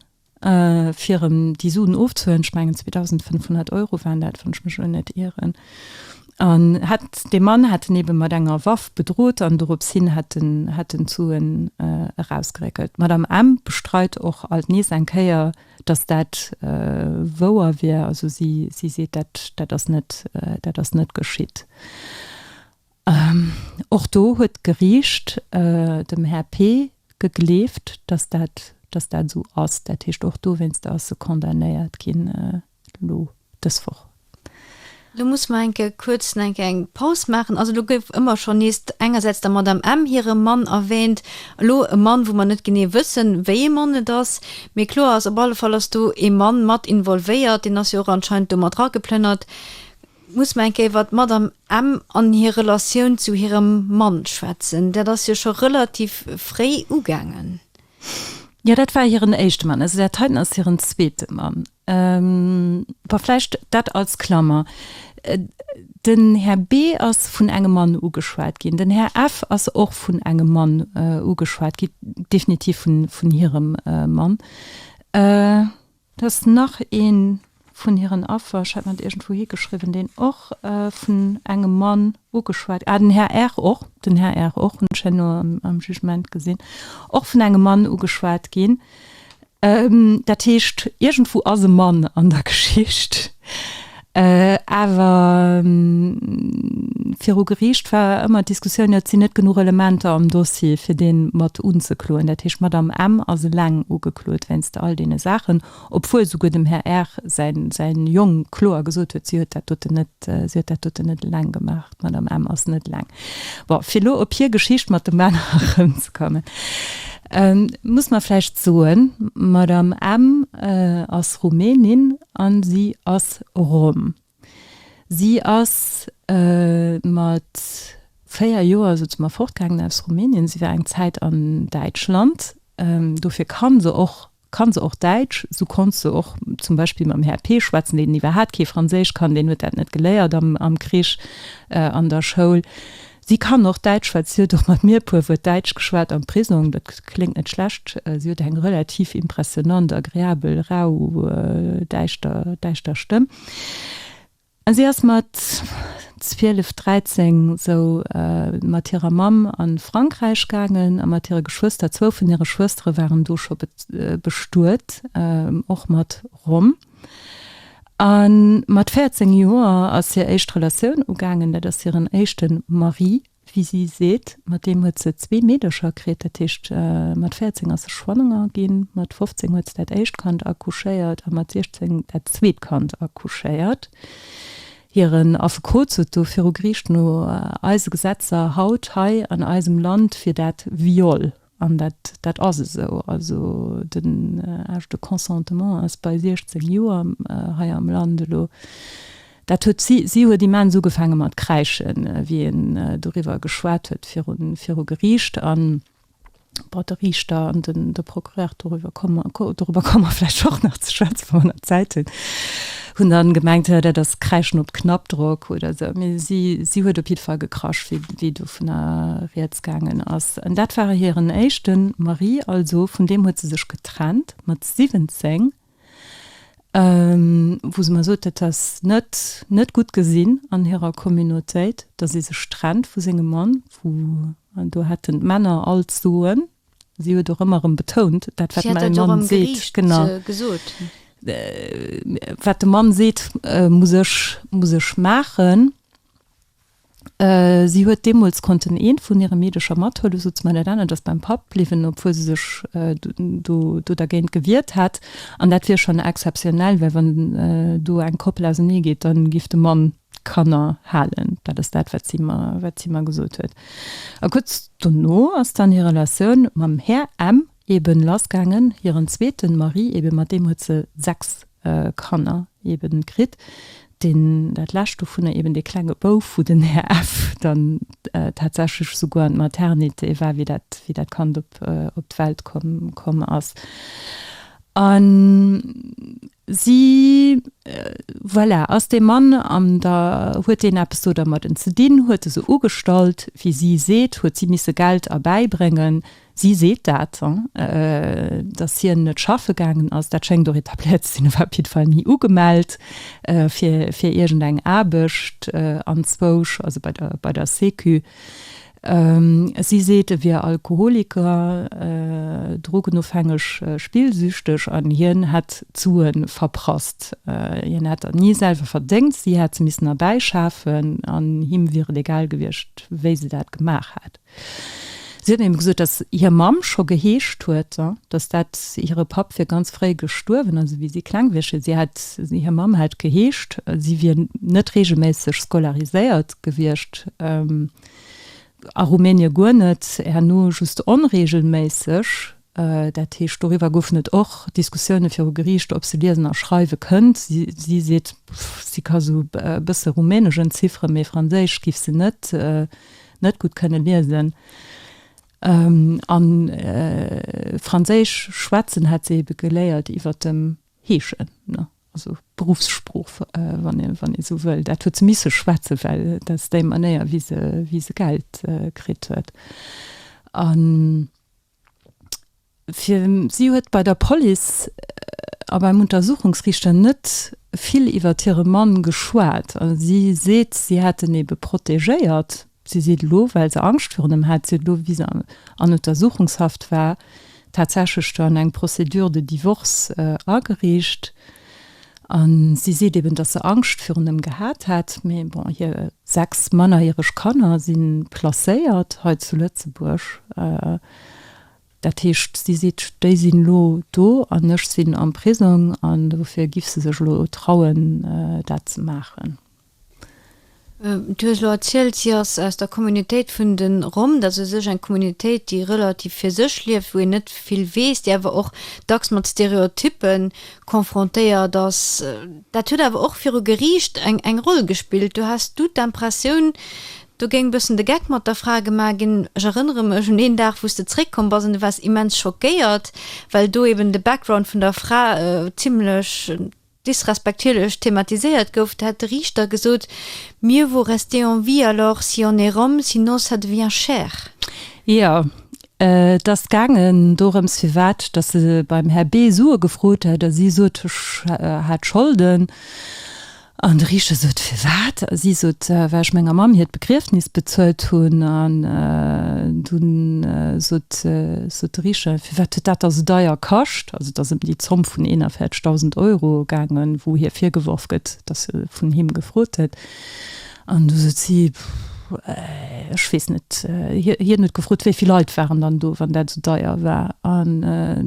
fir erëm déi Suen ofzehuelen, ech mengen 2.500 Euro waren dat, wann ech mech elo net ieren, an hätt, dee Mann hätt en ebe mat enger Waff bedrot an dorops hin hätt en, hätt en d'Suen erausgeréckelt. D'Madame M. bestreit och alt nees eng Kéier, datt dat wouer wier, also si, si seet, dat, dat ass net, dat ass net geschitt. Och do huet d'Geriicht dem Här P. gegleeft, dass dat, dass dat esou ass. Dat heescht, och dowéinster ass e condamnéiert ginn elo dës Woch. Elo musse mer enke kuerz en enke eng Paus maachen. Also elo gouf ëmmer schonn nees engersäits der Madame M. hire Mann erwähnt. Elo e Mann, wou mer net genee wëssen, wéi ee Mann et ass. Mee kloer ass, op alle Fall ass do ee Mann mat involvéiert. Deen ass jo och anscheinend do mat rageplënnert. Muss mer eng Kéier iwwert d'Madame M. an hir Relatioun zu hirem Mann schwätzen. Dat ass jo scho relativ fréi ugaangen. Jo, dat war hiren éischte Mann. Also dat heiten ass hiren zweete Mann. Bon, vläicht dat als Klammer. Den Här B. ass vun engem Mann ugeschwat ginn. Den Här F. ass och vun engem Mann ugeschwat ginn, definitiv vun hirem Mann. Dass nach ee vun hiren Affer, ech hat mer dat iergendwou higeschriwwen, deen och vun engem Mann ugeschwat, ah, den Här Err och, den Här Err och, hunn ech herno am Jugement gesinn, och vun engem Mann ugeschwat ginn. Dat heescht, iergendwou ass e Mann an der Geschicht. Awer viru Geriicht war ëmmer d'Diskussioun, jo et sinn net genuch Elementer am Dossier, fir dee mat unzekloen. Dat heescht, d'Madame M. ass eleng ugeklot wéinst all deene Saachen, obwuel souguer dem Här R. säin Jong kloer gesot huet, si huet dat doten net, si huet dat doten net eleng gemaach. D'Madame M. ass net eleng. Bon, fir elo op hir Geschicht mat de Männer erëmzekommen, muss mer vläicht soen, d'Madame M. ass Rumänin a si ass Rom. Si ass mat véier Joer, sote mer, fortgaangen aus Rumänien. Si war eng Zäit an Däitschland. Dofir ka se och Kann se och Däitsch, sou konnt se och zum Beispill mam Här P. schwätzen, deen iwwerhaat kee Franséisch kann, deen huet dat net geléiert am Krich an der Schoul. Si kann och Däitsch, well si huet och mat mir e puer Wuert Däitsch geschwat am Prisong. Dat kléngt net schlecht. Si huet eng relativ impressionnant, agreabel, rau, däischter, däischter Stëmm. A si ass mat zwielef, dräizéng sou mat hirer Mamm a Frankräich gaangen a mat hire Geschwëster. Zwou vun hire Schwëstere waren do scho bestuet, och mat Rom. A mat véierzéng Joer ass hir éischt Relatioun ugaangen, dat ass hiren éischte Mari Wéi si seet, mat deem huet se zwee Meedercher kritt. Dat heescht, mat 14 ass se schwanger ginn, mat 15 huet se dat éischt Kand accouchéiert a mat 16 dat zweet Kand accouchéiert. Hiren Affekot sot do viru Geriicht, no eise Gesetzer haut hei an eisem Land wier dat Viol. An dat, dat ass esou. Also den Âge de consentement ass bei 16 Joer hei am Land elo. Dat huet si, si huet immens ugefaange mat kräischen, wéi een doriwwer geschwat huet viru, viru Geriicht. A bon, de Riichter an den, de Procureur, doriwwer komme mer, doriwwer komme mer vläicht och nach ze schwätzen, wa mer nach Zäit hunn. Hunn dann gemengt hö dat ass Kräschen op Knappdrock oder sou, mee si si huet op jidde Fall gekrasch wéi wéi dovunner rieds gaangen ass. An dat war hiren éischte Mari, also vun deem huet se sech getrennt mat 17, wou se mer sot, dat ass net net gutt gesinn an hirer Communautéit, datt ee sech trennt vu sengem Mann, wou do hätten d'Männer all d'Soen. Si huet och ëmmer erëm betount, dat wat mäi Mann seet, genau, wat de Mann seet, muss ech, muss ech maachen. Si huet deemools konnten ee vun hire Meedercher mathuelen, esou d'Smile, dat anert ass beim Papp bliwwen, obwuel se sech do dergéint gewiert hätt. An dat wier schonn exzeptionell, well wann do eng Koppel auseneegeet, da giff de Mann, D'Kanner halen, dat ass dat, wat si mer, wat si mer gesot huet. A kuerz dono ass dann hir Relatioun mam Här M. eeben lassgaangen, hiren zweeten Mari, eebe mat deem huet se sechs Kanner eeben kritt, deen, dat lescht dovunner, eeben dee klenge Bouf, wou den Här F. dann tatsächlech esouguer an d'Maternité war, wéi dat, wéi dat Kand op, op d'Welt komm, komm ass. An. Si, voilà, ass dee Mann an da huet deen eppes do dermadden ze dinn, huet e se ugestallt, wéi si seet, huet si misse Geld erbäibréngen. Si seet dat, datt hien net schaffe gaangen ass, dat schéngt och etabléiert ze sinn, e war op jidde Fall ni ugemellt fir iergendeng Aarbecht, anzwousch, also bei der Sécu. Si seet, e wier Alkoholiker, drogenofhängeg, spillsüchteg an hien hätt d'Sue verprasst. Hien hätt der ni selwer verdéngt, si hätt se missen erbäischafen an him wier et egal gewiescht, wéi se dat gemaach hätt. Si huet him gesot, datt hir Mamm scho geheescht huet, datt dat hire Papp wier ganz fréi gestuerwen, also wéi si kleng wier. Si hätt, hir Mamm hätt geheescht, si wier net reegelméisseg scolariséiert gewiescht. A Rumänien guer net, herno just onreegelméisseg. Dat heescht, doriwwer goufen et och Diskussioune viru Geriicht, ob se liesen a schreiwe kënnt. Si seet, si ka sou e bësse Rumänesch entzifferen, mee Franséisch géif se net net gutt kënne liesen. A Franséisch schwätzen hätt se ebe geléiert iwwer dem Heeschen. also Beruffssprooch, wann ee esou wëll, dat huet se misse schwätzen, well dat ass déi Manéier, wéi se, wéi se Geld kritt huet. A fir, si huet bei der Police a beim Untersuchungsriichter net vill iwwert hire Mann geschwat. Si seet, si hätt en ebe protegéiert, Si seet elo, well se Angscht virun em hat, si huet elo, wéi se an Untersuchungshaft war, tatsächlech dann eng Procédure de divorce agereecht. A si seet eben, datt se Angscht virun em gehat hätt. Mee bon, hir sechs mannerjäreg Kanner si placéiert hei zu Lëtzebuerg. Dat heescht, si seet, déi sinn elo do an ech sinn am Prisong an dofir giff se sech elo trauen, dat ze maachen. Du hues elo erzielt, si ass aus der Communautéit vun de Rom. Dat ass u sech eng Communautéit, déi relativ fir sech lieft, wou een net vill weess, déi awer och dacks mat Stereotyppe confrontéiert ass. Dat huet awer och viru Geriicht eng Roll gespillt. Do has du d'Impressioun, do géing e bëssen de Geck mat der Fra gemaach ginn. Ech erënnere mech un een Dag, wou s de zeréckkomm bass an du waars immens schockéiert, well do eeben de Background vun der Fra zimlech, disrespektierlech thematiséiert gouf, da hätt de Riichter gesot, Mieux vaut rester en vie alors si on est Rome, sinon ça devient cher. Jo, et ass gaangen dorëms, firwat datt se beim Här B. Sue gefrot hätt a si sot, Ech hat Scholden. An de Riichter sot, Firwat? A si sot, Well ech menger Mamm hiert Begriefnis bezuelt hunn. An dunn sot de Riichter, Firwat huet dat da sou deier kascht? Also et ass ëm déi Zomm vun 41.000 Euro gaangen, wou hie virgeworf gëtt, datt e vun him gefrot hätt. An du sot si, Ech weess net. Hien huet gefrot, wéi vill Leit waren dann do, wann dat esou deier war. An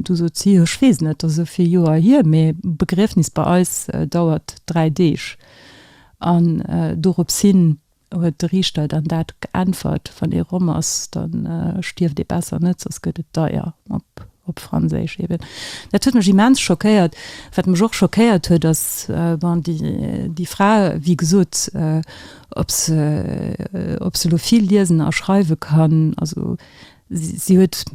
du sot si, Ech weess net, dat ass esou vill Joer hier, mee Begriefnis bei eis dauert dräi Deeg. An dorops hin Huet de Riichter dann dat geäntwert, Wann ee Rom ass, da stierft ee besser net, soss gëtt et deier, op Franséisch eben. Dat huet mech immens schockéiert. Wat mech och schockéiert huet, ass, bon, déi Fra, wéi gesot, ob se elo vill liesen a schreiwe kann, also Si huet,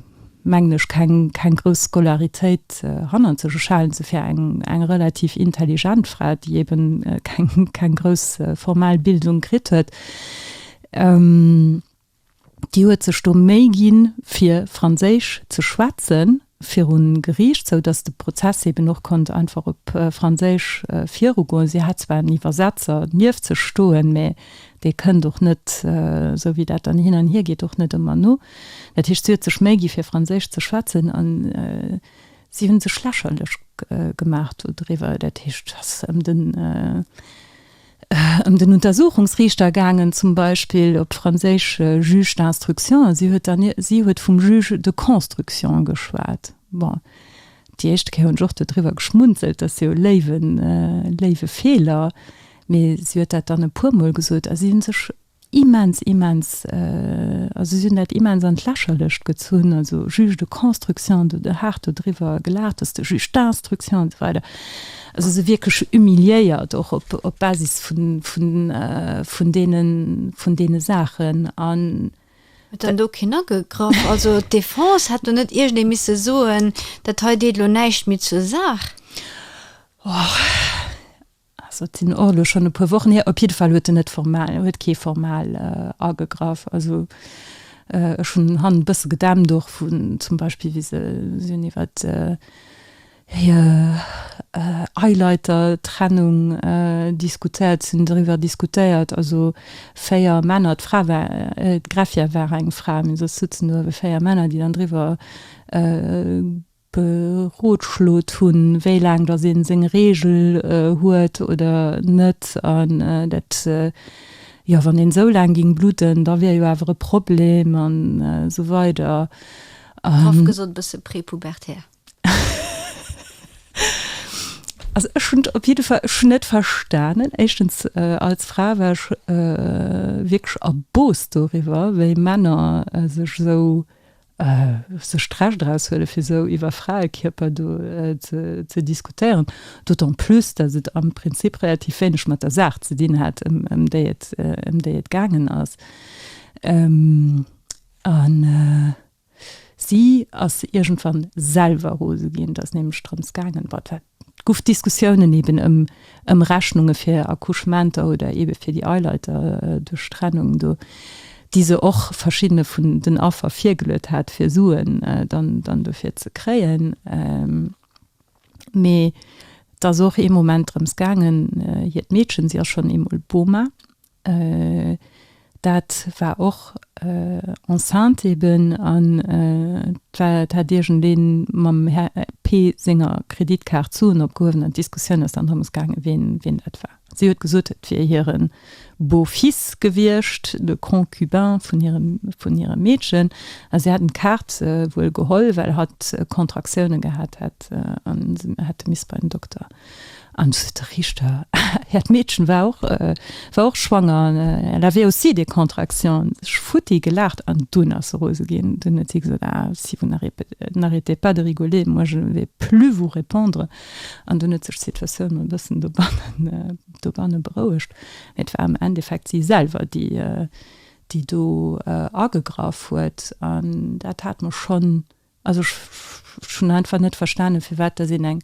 mengen ech, keng grouss Scolaritéit hannert sech. Ech halen se fir eng relativ intelligent Fra, déi eben keng grouss formal Bildung kritt huet. Déi huet sech do Méi ginn, fir Franséisch ze schwätzen, virun Geriicht, sou datt de Prozess eben och konnt einfach op Franséisch virugoen. Si hat zwar en Iwwersetzer nieft sech stoen, mä dee kënnt och net, sou wéi dat dann hin an hier geet, och net ëmmer no. Dat heescht, si huet sech Méi gi fir Franséisch ze schwätzen an si hu sech lächerlech gemaach dodriwwer. Dat heescht, datt ëm den. ëm den Untersuchungsriichter gaangen, zum Beispill op franséisch Juge d'instruction, a si huet dann, si huet vum Juge de construction geschwat. Bon, déi éischte Kéier hunn ech och do driwwer geschmunzelt, dat ass jo e léiwen, léiwe Feeler, mee si huet dat dann e puermol gesot a si hu sech immens immens also si hunn dat immens an d'Lächerlecht gezunn, also Juge de construction, do de haart do driwwer gelaacht, dass de Juge d'instruction an esou weider, also se wierklech humiliéiert och op op Basis vun vun vun deene vun deene Saachen an. Huet dann do keen agegraff? Also d'Defense hätt do net iergendee misse soen, dat hei deet elo näischt méi zur Saach? Also et sinn och elo schonn e puer Wochen hier. Op jidde Fall huet en net formal, huet kee formal agegraff. Also ech hunn, han e bësse gedämpt och vun zum Beispill, wéi se hunn iwwer hir Eileitertrennung diskutéiert, se hunn driwwer diskutéiert, also véier Männer, d'Fra war, d'Greffier war eng Fra, mee soss sëtzen do ebe véier Männer, déi dann driwwer berodschlot hunn, wéi laang dass ee seng Reegel huet oder net an dat, jo, wann een esou laang géing bludden, da wier jo awer e Problem an esou weider. Graff gesot e bësse prepubertär. Also ech hunn op jidde Fall, ech hunn net verstanen, éischtens als Fra war ech wierklech erboosst doriwwer, wéi Männer sech esou sech d'Recht draus huelen, fir esou iwwer Fraekierper do ze diskutéieren, d'autant plus, datt et am Prinzip relativ wéineg mat der Saach ze dinn hat, ëm déi et, ëm déi et gaangen ass. A si ass iergendwann selwer rose ginn, et ass nämlech drëms gaangen, wat war. D'Guff Diskussiounen eben ëm ëm Rechnunge fir Accouchementer oder eben fir déi Eileiter duerch Trennung do, déi se och verschiddene vun den Affer virgeluet hat fir Suen dann dann dofir ze kréien. Mee et ass och ee Moment drëms gaangen, hiert Meedchen, si ass schonn eemol Boma. Dat war och enceinte eben an dat hat iergendeen mam Här P. senger Kreditkaart d'Suen opgehuewen an d'Diskussioun ass dann drëms gaangen, ween dat war. Si huet gesot, et wier hire Beau-fils gewiescht, de Concubin vun hirem Meedchen, a si hätten d'Kaart wuel geholl, well hatt Kontraktiounen gehat hätt an se hätte misse bei den Dokter. An de Richter, Här, d'Meedchen war och, war och schwanger, elle avait aussi des contractions. Ech futti gelaacht an dunn ass se rose ginn. Dunn huet si gesot, Ah, si vous n'arrêtez pas de rigoler, moi je ne vais plus vous répondre. An dunn huet sech d'Situatioun e bëssen dobannen, dobanne berouegt. Mee et war am Endeffekt si selwer, déi, déi do agegraff huet. An dat hat mer schonn. Also ech hunn einfach net verstanen, firwat dass een eng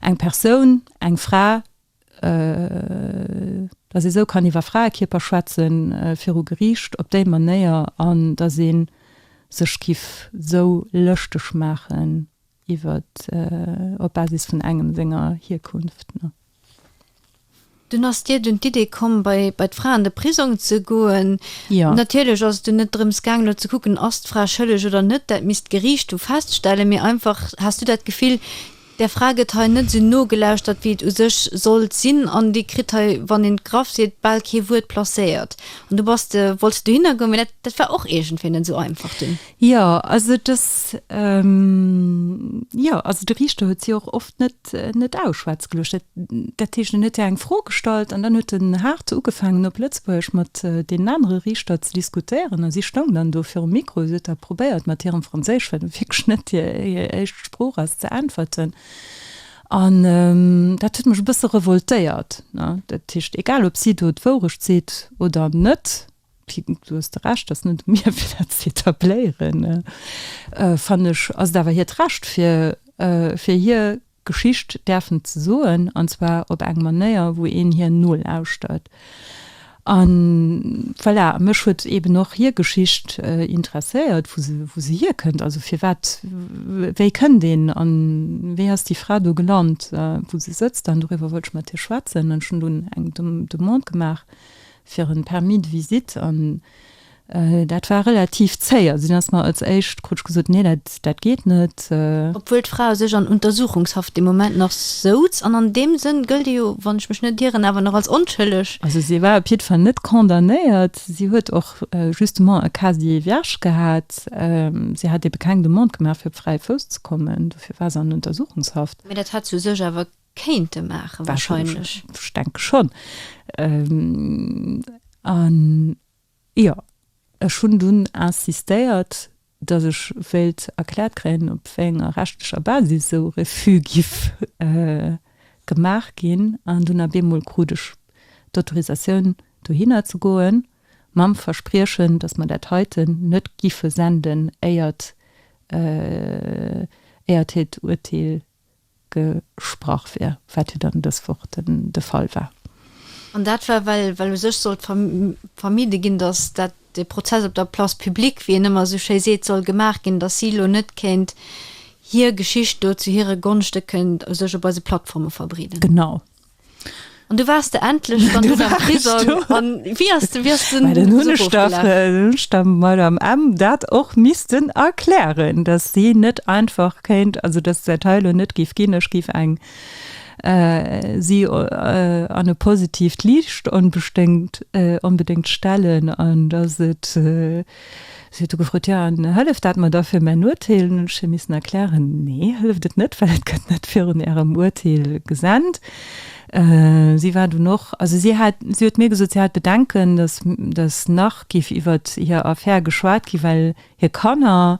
eng Persoun, eng Fra, dass ee esou kann iwwer Fraekierper schwätze viru Geriicht op déi Manéier an dass ee sech giff esou lëschteg maachen iwwert op Basis vun engem senger Hierkunft. Dunn ass Dir dunn d'Idee komm, bei bei d'Fra an de Prisong ze goen. Jo. Natierlech ass et dunn net drëms gaang, elo ze kucken, ass d'Fra schëlleg oder net, dat misst d'Geriicht du feststellen, mee einfach, Has du dat Gefill, der Fra gëtt hei net esou nogelauschtert, wéi et u sech sollt sinn an déi kritt hei, wann een et graff seet, bal kee Wuert placéiert? An du bass de, wolls de dohinner goen, mee dat war och iergendwéi net esou einfach dunn. Jo, also dass, jo, also de Riichter huet si och oft net, net ausschwätze geluecht. Dat, dat heescht, en huet hir eng Fro gestallt an dann huet en haart ugefaangen op Lëtzebuergesch mat deenen anere Riichter ze diskutéieren a si stoung dann do virum Mikro. Si huet da probéiert mat hirem Franséisch, wat nu wierklech net hir, hir éischt Sprooch ass, ze äntwerten. An dat huet mech e bësse revoltéiert, ne. Dat heescht, egal ob si do d'Wourecht seet oder net, Du hues de Recht, ass net u mir fir dat ze etabléieren, fannen ech, ass et awer hiert Recht fir hir Geschicht däerfen ze soen, an zwar op eng Manéier wou een hir nolauschtert. An voilà, mech huet eben och hir Geschicht interesséiert, wou se hierkënnt, also firwat, wéi kënnt een an wéi ass déi Fra do gelant wou se sëtzt, an doriwwer wollt ech mat hir schwätzen. An ech hunn dunn eng Demande gemaach fir en Permis de visite an dat war relativ zéih, also deen ass mer als éischt, krut ech gesot, nee dat dat geet net. Obwuel d'Fra u sech an Untersuchungshaft dee Moment nach souz an an deem Sënn gëllt ee jo, wann ech mech net ieren, awer nach als onschëlleg. Also si war op jidd Fall net condamnéiert, si huet och justement e casier vierge gehat, si hat ebe keng Demande gemaach fir op fräie Fouss ze kommen, dofir war se an Untersuchungshaft. Mee dat hätt se u sech awer kéinte maachen warscheinlech. Ech denke schonn. An jo, ech hunn dunn insistéiert, datt ech wéilt erkläert kréien, op wéi enger rechtlecher Basis esou Refuse giff gemaach ginn. An dunn ab eemol krut ech d'Autorisatioun dohinner ze goen, mam Verspriechen, datt mer dat heiten net giffe senden, éiert, éiert hiert Urteel gesprach wier, wat jo dann dës Woch de Fall war. An dat war, well u sech sollt vermide ginn, datt dat de Prozess op der Place publique, wéi een ëmmer esou schéi seet, soll gemaach ginn, datt si elo net kéint hir Geschicht do zu hire Gonschte kënnt u sech op eise Plattforme verbreeden. Genau. An du wars de endlech dann du am Prisong an wie as de wies den den Hunstaffel mal am M dat och misisten erklären, dass sie net einfach kéint, also dass se Teile net gif ginn ech gif eng äh, si äh, an e positivt Liicht onbesténgt äh, onbedéngt stellen an dass et äh, Si huet du gefrot, Jo, an hëlleft dat mer da fir mäin Urteel? An hunn ech hir missen erklären, Nee, hëlleft et net, well et gëtt net virun Ärem Urteel gesent. Si war dunn och, also si hat, si huet mir gesot, si hat Bedenken, datt, datt nach géif iwwert hir Affär geschwat ginn, well hir Kanner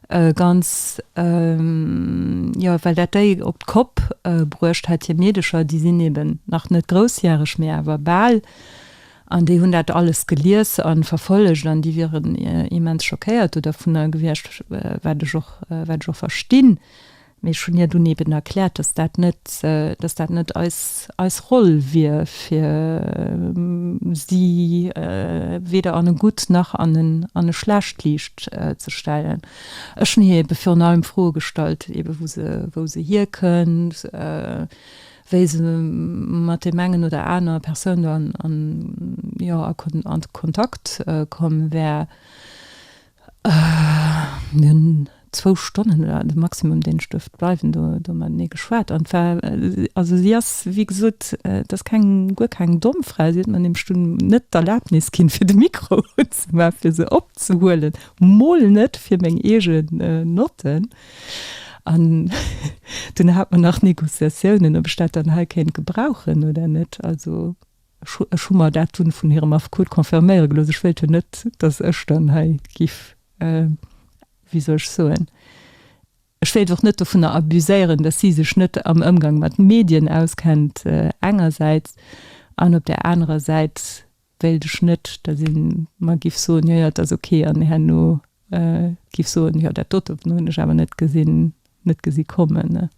ganz, jo, well dat déi op d'Kopp bruecht hätt, hir Meedecher, déi sinn eeben nach net groussjäreg, mee awer bal. An déi hunn dat alles gelies a verfollegt an déi wieren immens schockéiert dodavunner gewiescht, wat ech och, wat ech och verstinn. Mee ech hunn hir dunn eeben erkläert, dass dat net, dass dat net eis, eis Roll wier, fir si weder an e gutt nach an en, an e schlecht Liicht ze stellen. Ech hunn hir eebe virun allem Froe gestallt, eebe wou se, wou se hierkënnt, wéi se mat deem engen oder aner Persoun do an, jo, a Kontakt komm wär. Mir hunn zwou Stonnen, oder de Maximum, deen ech duerft bleiwen, do matenee geschwat. An et war, also si ass, wéi gesot, et ass keng, guer keng domm Fra, si huet mer nämlech dunn net d'Erlabnis ginn, fir de Mikro unzemaachen, fir se opzehuelen, mol net fir meng eege Notten. An dunn hat mer nach Négociatiounen, ob ech dat dann hei kéint gebrauchen oder net. Also ech hu mer dat dunn vun hirem Affekot confirméiere gelooss. Ech wéilt jo net, dass ech dann hei giff, wéi soll ech soen, ech wéilt och net dovunner abuséieren, dass si sech net am Ëmgang mat Medien auskennt engersäits an op där anerer Säit Wéilt ech net, dat een mer giff soen, jo, jo, et ass ok, an herno giff soen, jo, dat dote hunn ech awer net gesinn, net gesi kommen.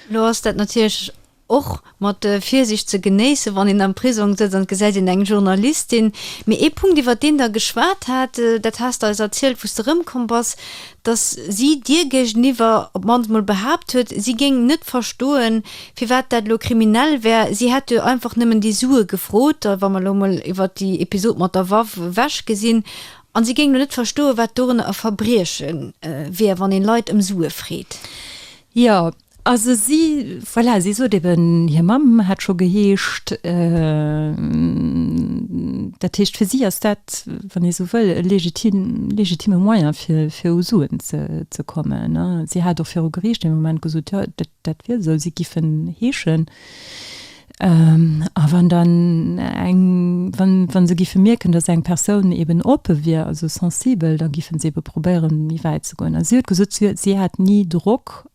Elo ass dat natierlech och mat Virsiicht ze genéissen, wann een am Prisong sëtzt an et gesäit een eng Journalistin. Mee ee Punkt, iwwert deen Der geschwat hat, dat has Der eis erzielt, wou s De erëmkomm bass, dass si Dir géigeniwwer op d'mannst emol behaapt huet, si géing net verstoen, firwat dat elo kriminell wär. Si hätt jo einfach nëmmen déi Sue gefrot, wa mer elo emol iwwert déi Episod mat der Waff ewech gesinn, a si géing elo net verstoen, wat dorënner e Verbrieche wier, wann ee Leit ëm Sue freet. Jo, Also si, voilà, si sot eben, hir Mamm hätt scho geheescht. Dat heescht, fir si ass dat, wann ee sou wëll, e legitimme Moyen, fir u Suen ze kommen. Si hat och viru Geriicht ee Moment gesot, jo, dat wier esou, si giffen heeschen. A wann dann eng, wa se géife mierken, datt eng Persoun eeben oppe wier, also sensibel, da géife se ebe probéieren, méi wäit ze goen. A si huet gesot, si huet, si hätt ni Drock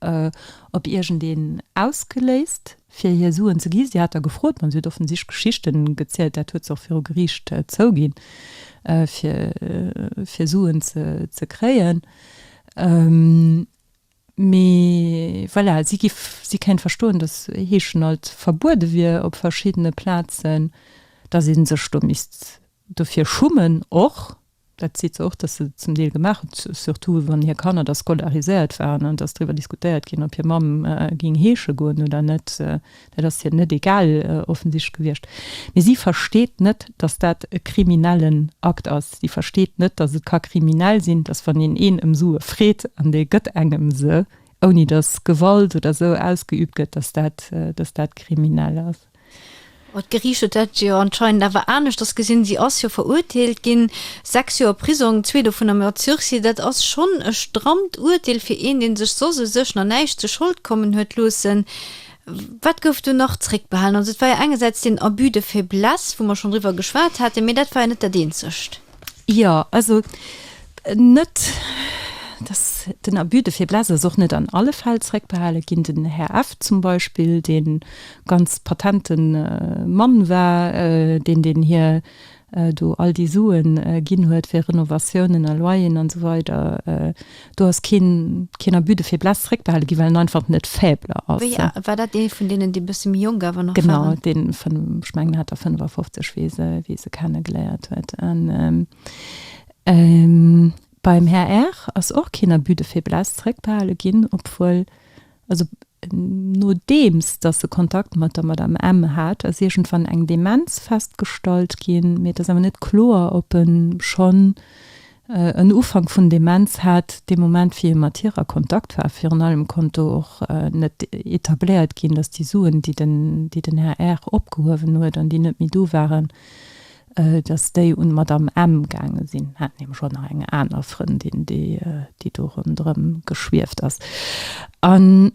op iergendeen ausgeléist, fir hir Suen ze gi. Si hat da gefrot, ma si huet offensichtlech Geschichte gezielt, dat huet se och viru Geriicht zouginn, fir, fir Suen ze kréien. Mee voilà, si giff si kéint verstoen, dass Heeschen alt verbuede wier op verschiddene Plazen, dass ee sech do misst dofir schummen och. Dat seet se och, dass se zum Deel gemaach huet, surtout wann hir Kanner da scolariséiert waren an dass driwwer diskutéiert ginn, ob hir Mamm géing heesche goen oder net, Dat ass hir net egal, offensichtlech, gewiescht. Mee si versteet net, datt dat e kriminellen Akt ass. Si versteet net, datt et ka kriminell sinn, datt wann een een ëm Sue freet an dee gëtt engem se, ouni datt Gewalt oder esou ausgeüübt gëtt, datt dat, datt dat kriminell ass. Mä d'Geriicht huet dat jo anscheinend awer aneschters gesinn. Si ass jo verurteelt ginn. Sechs Joer Prisong, zwee dovun am Mord sursis, dat ass schonn e strammt Urteel fir een, dee sech soss u sech no näischt zu Schold kommen huet loossen. Wat gouf do nach zréckbehalen? Also et war jo engersäits deen Abus de faiblesse, wou mer schonn driwwer geschwat haten, mee dat war jo net dat eenzegt. Jo, also net dass. Den Abus de faiblesse ass och net an alle Fäll zréckbehale ginn. Den Här F. zum Beispill, dee ganz patente Mann war, deen deen hir do all déi Suen ginn huet fir Renovatiounen a Loyeren an esou weider, do ass keen, keen Abus de faiblesse zréckbehale ginn, well en einfach net faible ass. Wéi war dat dee vun deenen, déi e bësse méi jonk awer nach waren? Genau, dee vun, ech mengen, hat der 55, wéi e se, wéi e se kenne geléiert huet. Beim Här Err ass och keen Abus de faiblesse zréckbehale ginn, obwuel, also, Nodeems dass e Kontakt mat der Madame M. hat, ass iergendwann eng Demenz festgestallt ginn, mee et ass awer net kloer, ob e schonn en Ufank vun Demenz hat dee Moment, wéi e mat hir a Kontakt war. Virun allem konnt do och net etabléiert ginn, dass déi Suen, déi den Här R. opgehuewen huet an déi net méi do waren, Dass déi un d'Madame M. gaange sinn, hat nämlech och nach eng aner Frëndin, déi do ronderëm geschwieft ass. An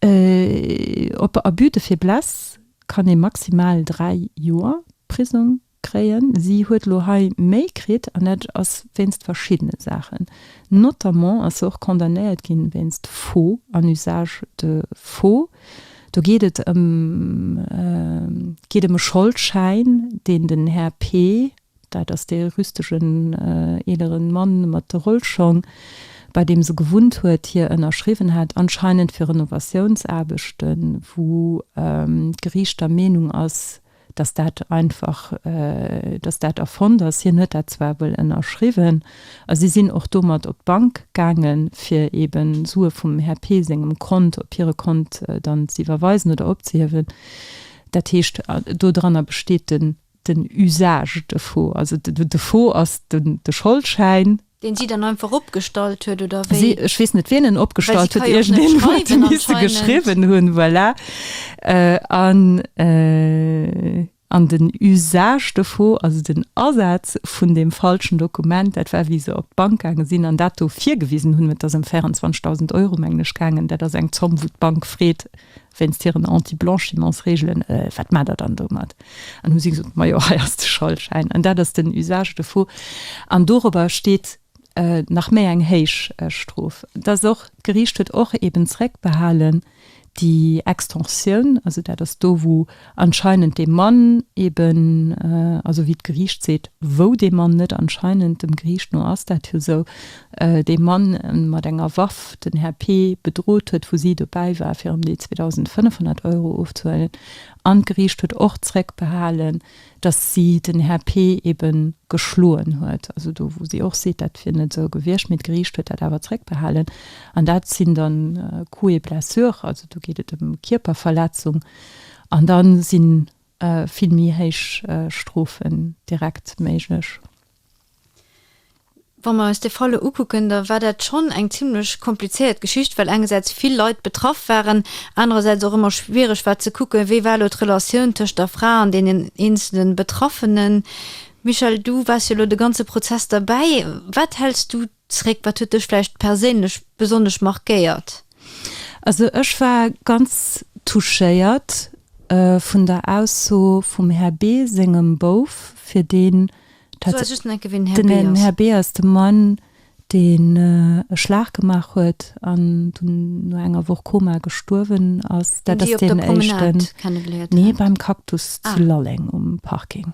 op Abus de faiblesse kann ee maximal dräi Joer Prisong kréien. Si huet elo hei méi kritt, an dat ass wéinst verschiddene Saachen. Notamment ass se och condamnéiert ginn wéinst Faux an Usage de faux. Do geet et geet ëm e Scholdschäin, deen den Här P. dat ass dee rüstegen eelere Mann mat de Rollschong, bei deem se gewunnt huet, hir ënnerschriwwen hat, anscheinend fir Renovatiounsaarbechten, wou d'Geriicht der Meenung ass, dass dat einfach, dass dat erfonnt ass. Hien huet dat zwar wuel ënnerschriwwen a si sinn och domat op d'Bank gaangen, fir eeben Sue vum Här P. sengem Kont op hire Kont dann z'iwwerweisen oder opzehiewen. Dat heescht, dodranner besteet den Usage de faux. Also de faux ass de Scholdschäin, Deen si dann einfach opgestallt huet, oder wéi? Si, ech weess net wien en opgestallt huet, iergendeen huet e misse geschriwwen hunn, voilà. An, an den Usage dovu, also den Asaz vun deem falschen Dokument, dat war wéi se op d'Bank gaange sinn an dat do virgewisen hunn, et ass ëm 24.000 Euro mengen ech gaangen, dat ass eng Zomm wou d'Bank freet wéinst hiren Anti-Blanchimentsreegelen, wat maacht der dann domat? An hu si gesot, Ma jo, hei ass de Scholdschäin. An dat ass den Usage dovu. An dorobber steet nach méi eng héich Strof. Et ass och, d'Geriicht huet och eben zréckbehalen déi Extorsioun, also dat ass do, wou anscheinend dee Mann eben, also wéi d'Geriicht seet, wou dee Mann net, anscheinend, dem Geriicht no ass dat jo esou, dee Mann mat enger Waff den Här P. bedrot huet, wou si dobäi war, fir ëm déi 2.500 Euro ofzehuelen. An d'Geriicht huet och zréckbehalen, datt si den Här P. ebe geschloen huet. Also do, wou si och seet, dat wier net esou gewiescht, mee d'Geriicht huet dat awer zréckbehalen. An dat sinn dann Coups et blessures, also do geet et ëm Kierperverletzung. An da si vill méi héich Strofen direkt méiglech. Wa mer eis dee Fall elo ukucken, da war dat schonn eng zimlech komplizéiert Geschicht, well engersäits vill Leit betraff waren, anerersäits och ëmmer schwiereg war ze kucken, wéi war elo d'Relatioun tëscht der Fra an deenen eenzele Betraffenen. Michèle, du waars jo elo de ganze Prozess derbäi. Wat häls du Zréck, wat huet dech vläicht perséinlech besonnesch markéiert? Also ech war ganz touchéiert vun der Ausso vum Här B. sengem Bouf, fir deen, den Här B. ass de Mann, deen e Schlag gemaach huet an dunn no enger Woch Koma gestuerwen ass. Dat ass deen éischten, nee beim Cactus zu Lalleng um Parking.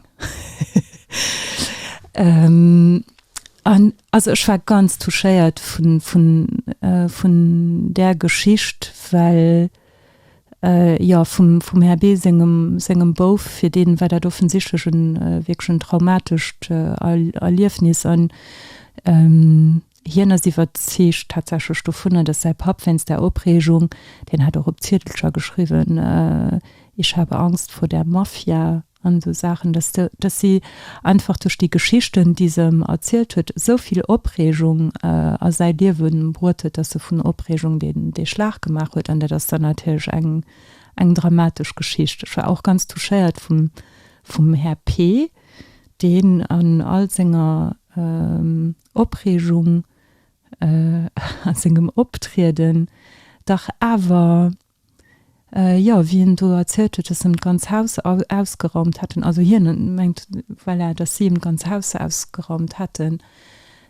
An also ech war ganz touchéiert vun, vun, vun där Geschicht, well, jo, vum, vum Här B. sengem, sengem Bouf, fir deen war dat offensichtlech e wierklech en traumatescht Erliefnis an hien ass iwwerzeegt tatsächlech dovunner, dass säi Papp wéinst där Opreegung, deen hat och op Ziedelcher geschriwwen, Ich habe Angst vor der Mafia, An esou Saachen, dass de, dass si einfach duerch déi Geschichten, déi se em erzielt huet, esou vill Opreegung a säi Liewe bruet huet, dass e vun Opreegung deen, dee Schlag gemaach huet. An dat ass dann natierlech eng, eng dramatesch Geschicht. Ech war och ganz touchéiert vum, vum Här P. deen an all senger Opreegung a sengem Optrieden dach awer Jo, wéi en do erzielt huet, dass en d'ganz Haus ausgeraumt hätten, also hien mengt, voilà, dass si em d'ganz Haus ausgeraumt hätten,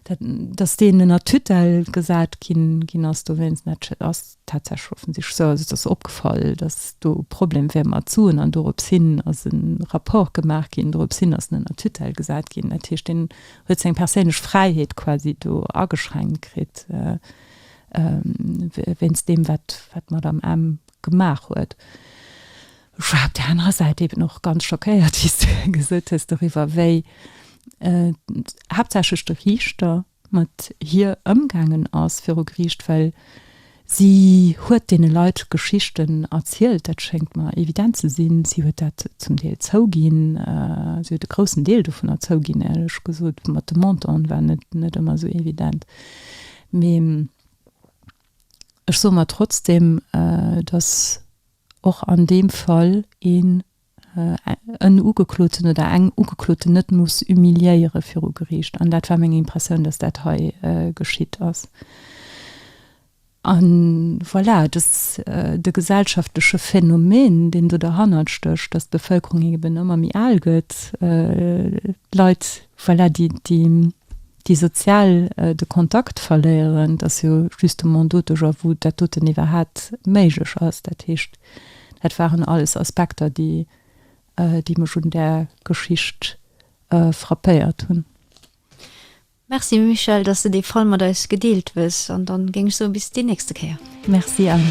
dat, dass deen ënner Tutelle gesat ginn ass dowéinst, dat ass tatsächlech offensichtlech esou. Also et ass opgefall, dass do e Problem wär mat Suen an dorops hin ass e Rapport gemaach ginn, dorops hin ass en ënner Tutelle gesat ginn. Dat heescht, deen huet seng perséinlech Fräiheet quasi do ageschränkt kritt. wéinst deem, wat d'Madame M. gemaach huet. Ech war op där anerer Säit eben och ganz schockéiert, wéi s du gesot hues, doriwwer, wéi haaptsächlech de Riichter mat hir ëmgaangen ass viru Geriicht, well si huet deene Leit Geschichten erzielt, dat schéngt mer evident ze sinn, si huet dat zum Deel zouginn, si huet e groussen Deel dovunner zouginn, éierlech gesot, ma de Montant war net ëmmer esou evident. Mee ech soe mer trotzdem, dass och an deem Fall een en Ugekloten oder eng Ugekloten net muss humiliéiere viru Geriicht. An dat war meng Impressioun, dass dat hei geschitt ass. A voilà, et ass de gesellschaftleche Phänomen, deen do derhannert stécht, dass d'Bevëlkerung eben ëmmer méi al gëtt, d'Leit, voilà, déi, déi. déi sozial de Kontakt verléieren, dat ass jo justement doduerjer wou dat doten iwwerhat méiglech ass. Dat heescht, dat waren alles Aspekter, déi déi mech un där Geschicht frappéiert hunn. Merci Michèle, dass de dee Fall mat eis gedeelt hues an dann géing ech soen bis déi nächste Kéier. Merci Anne.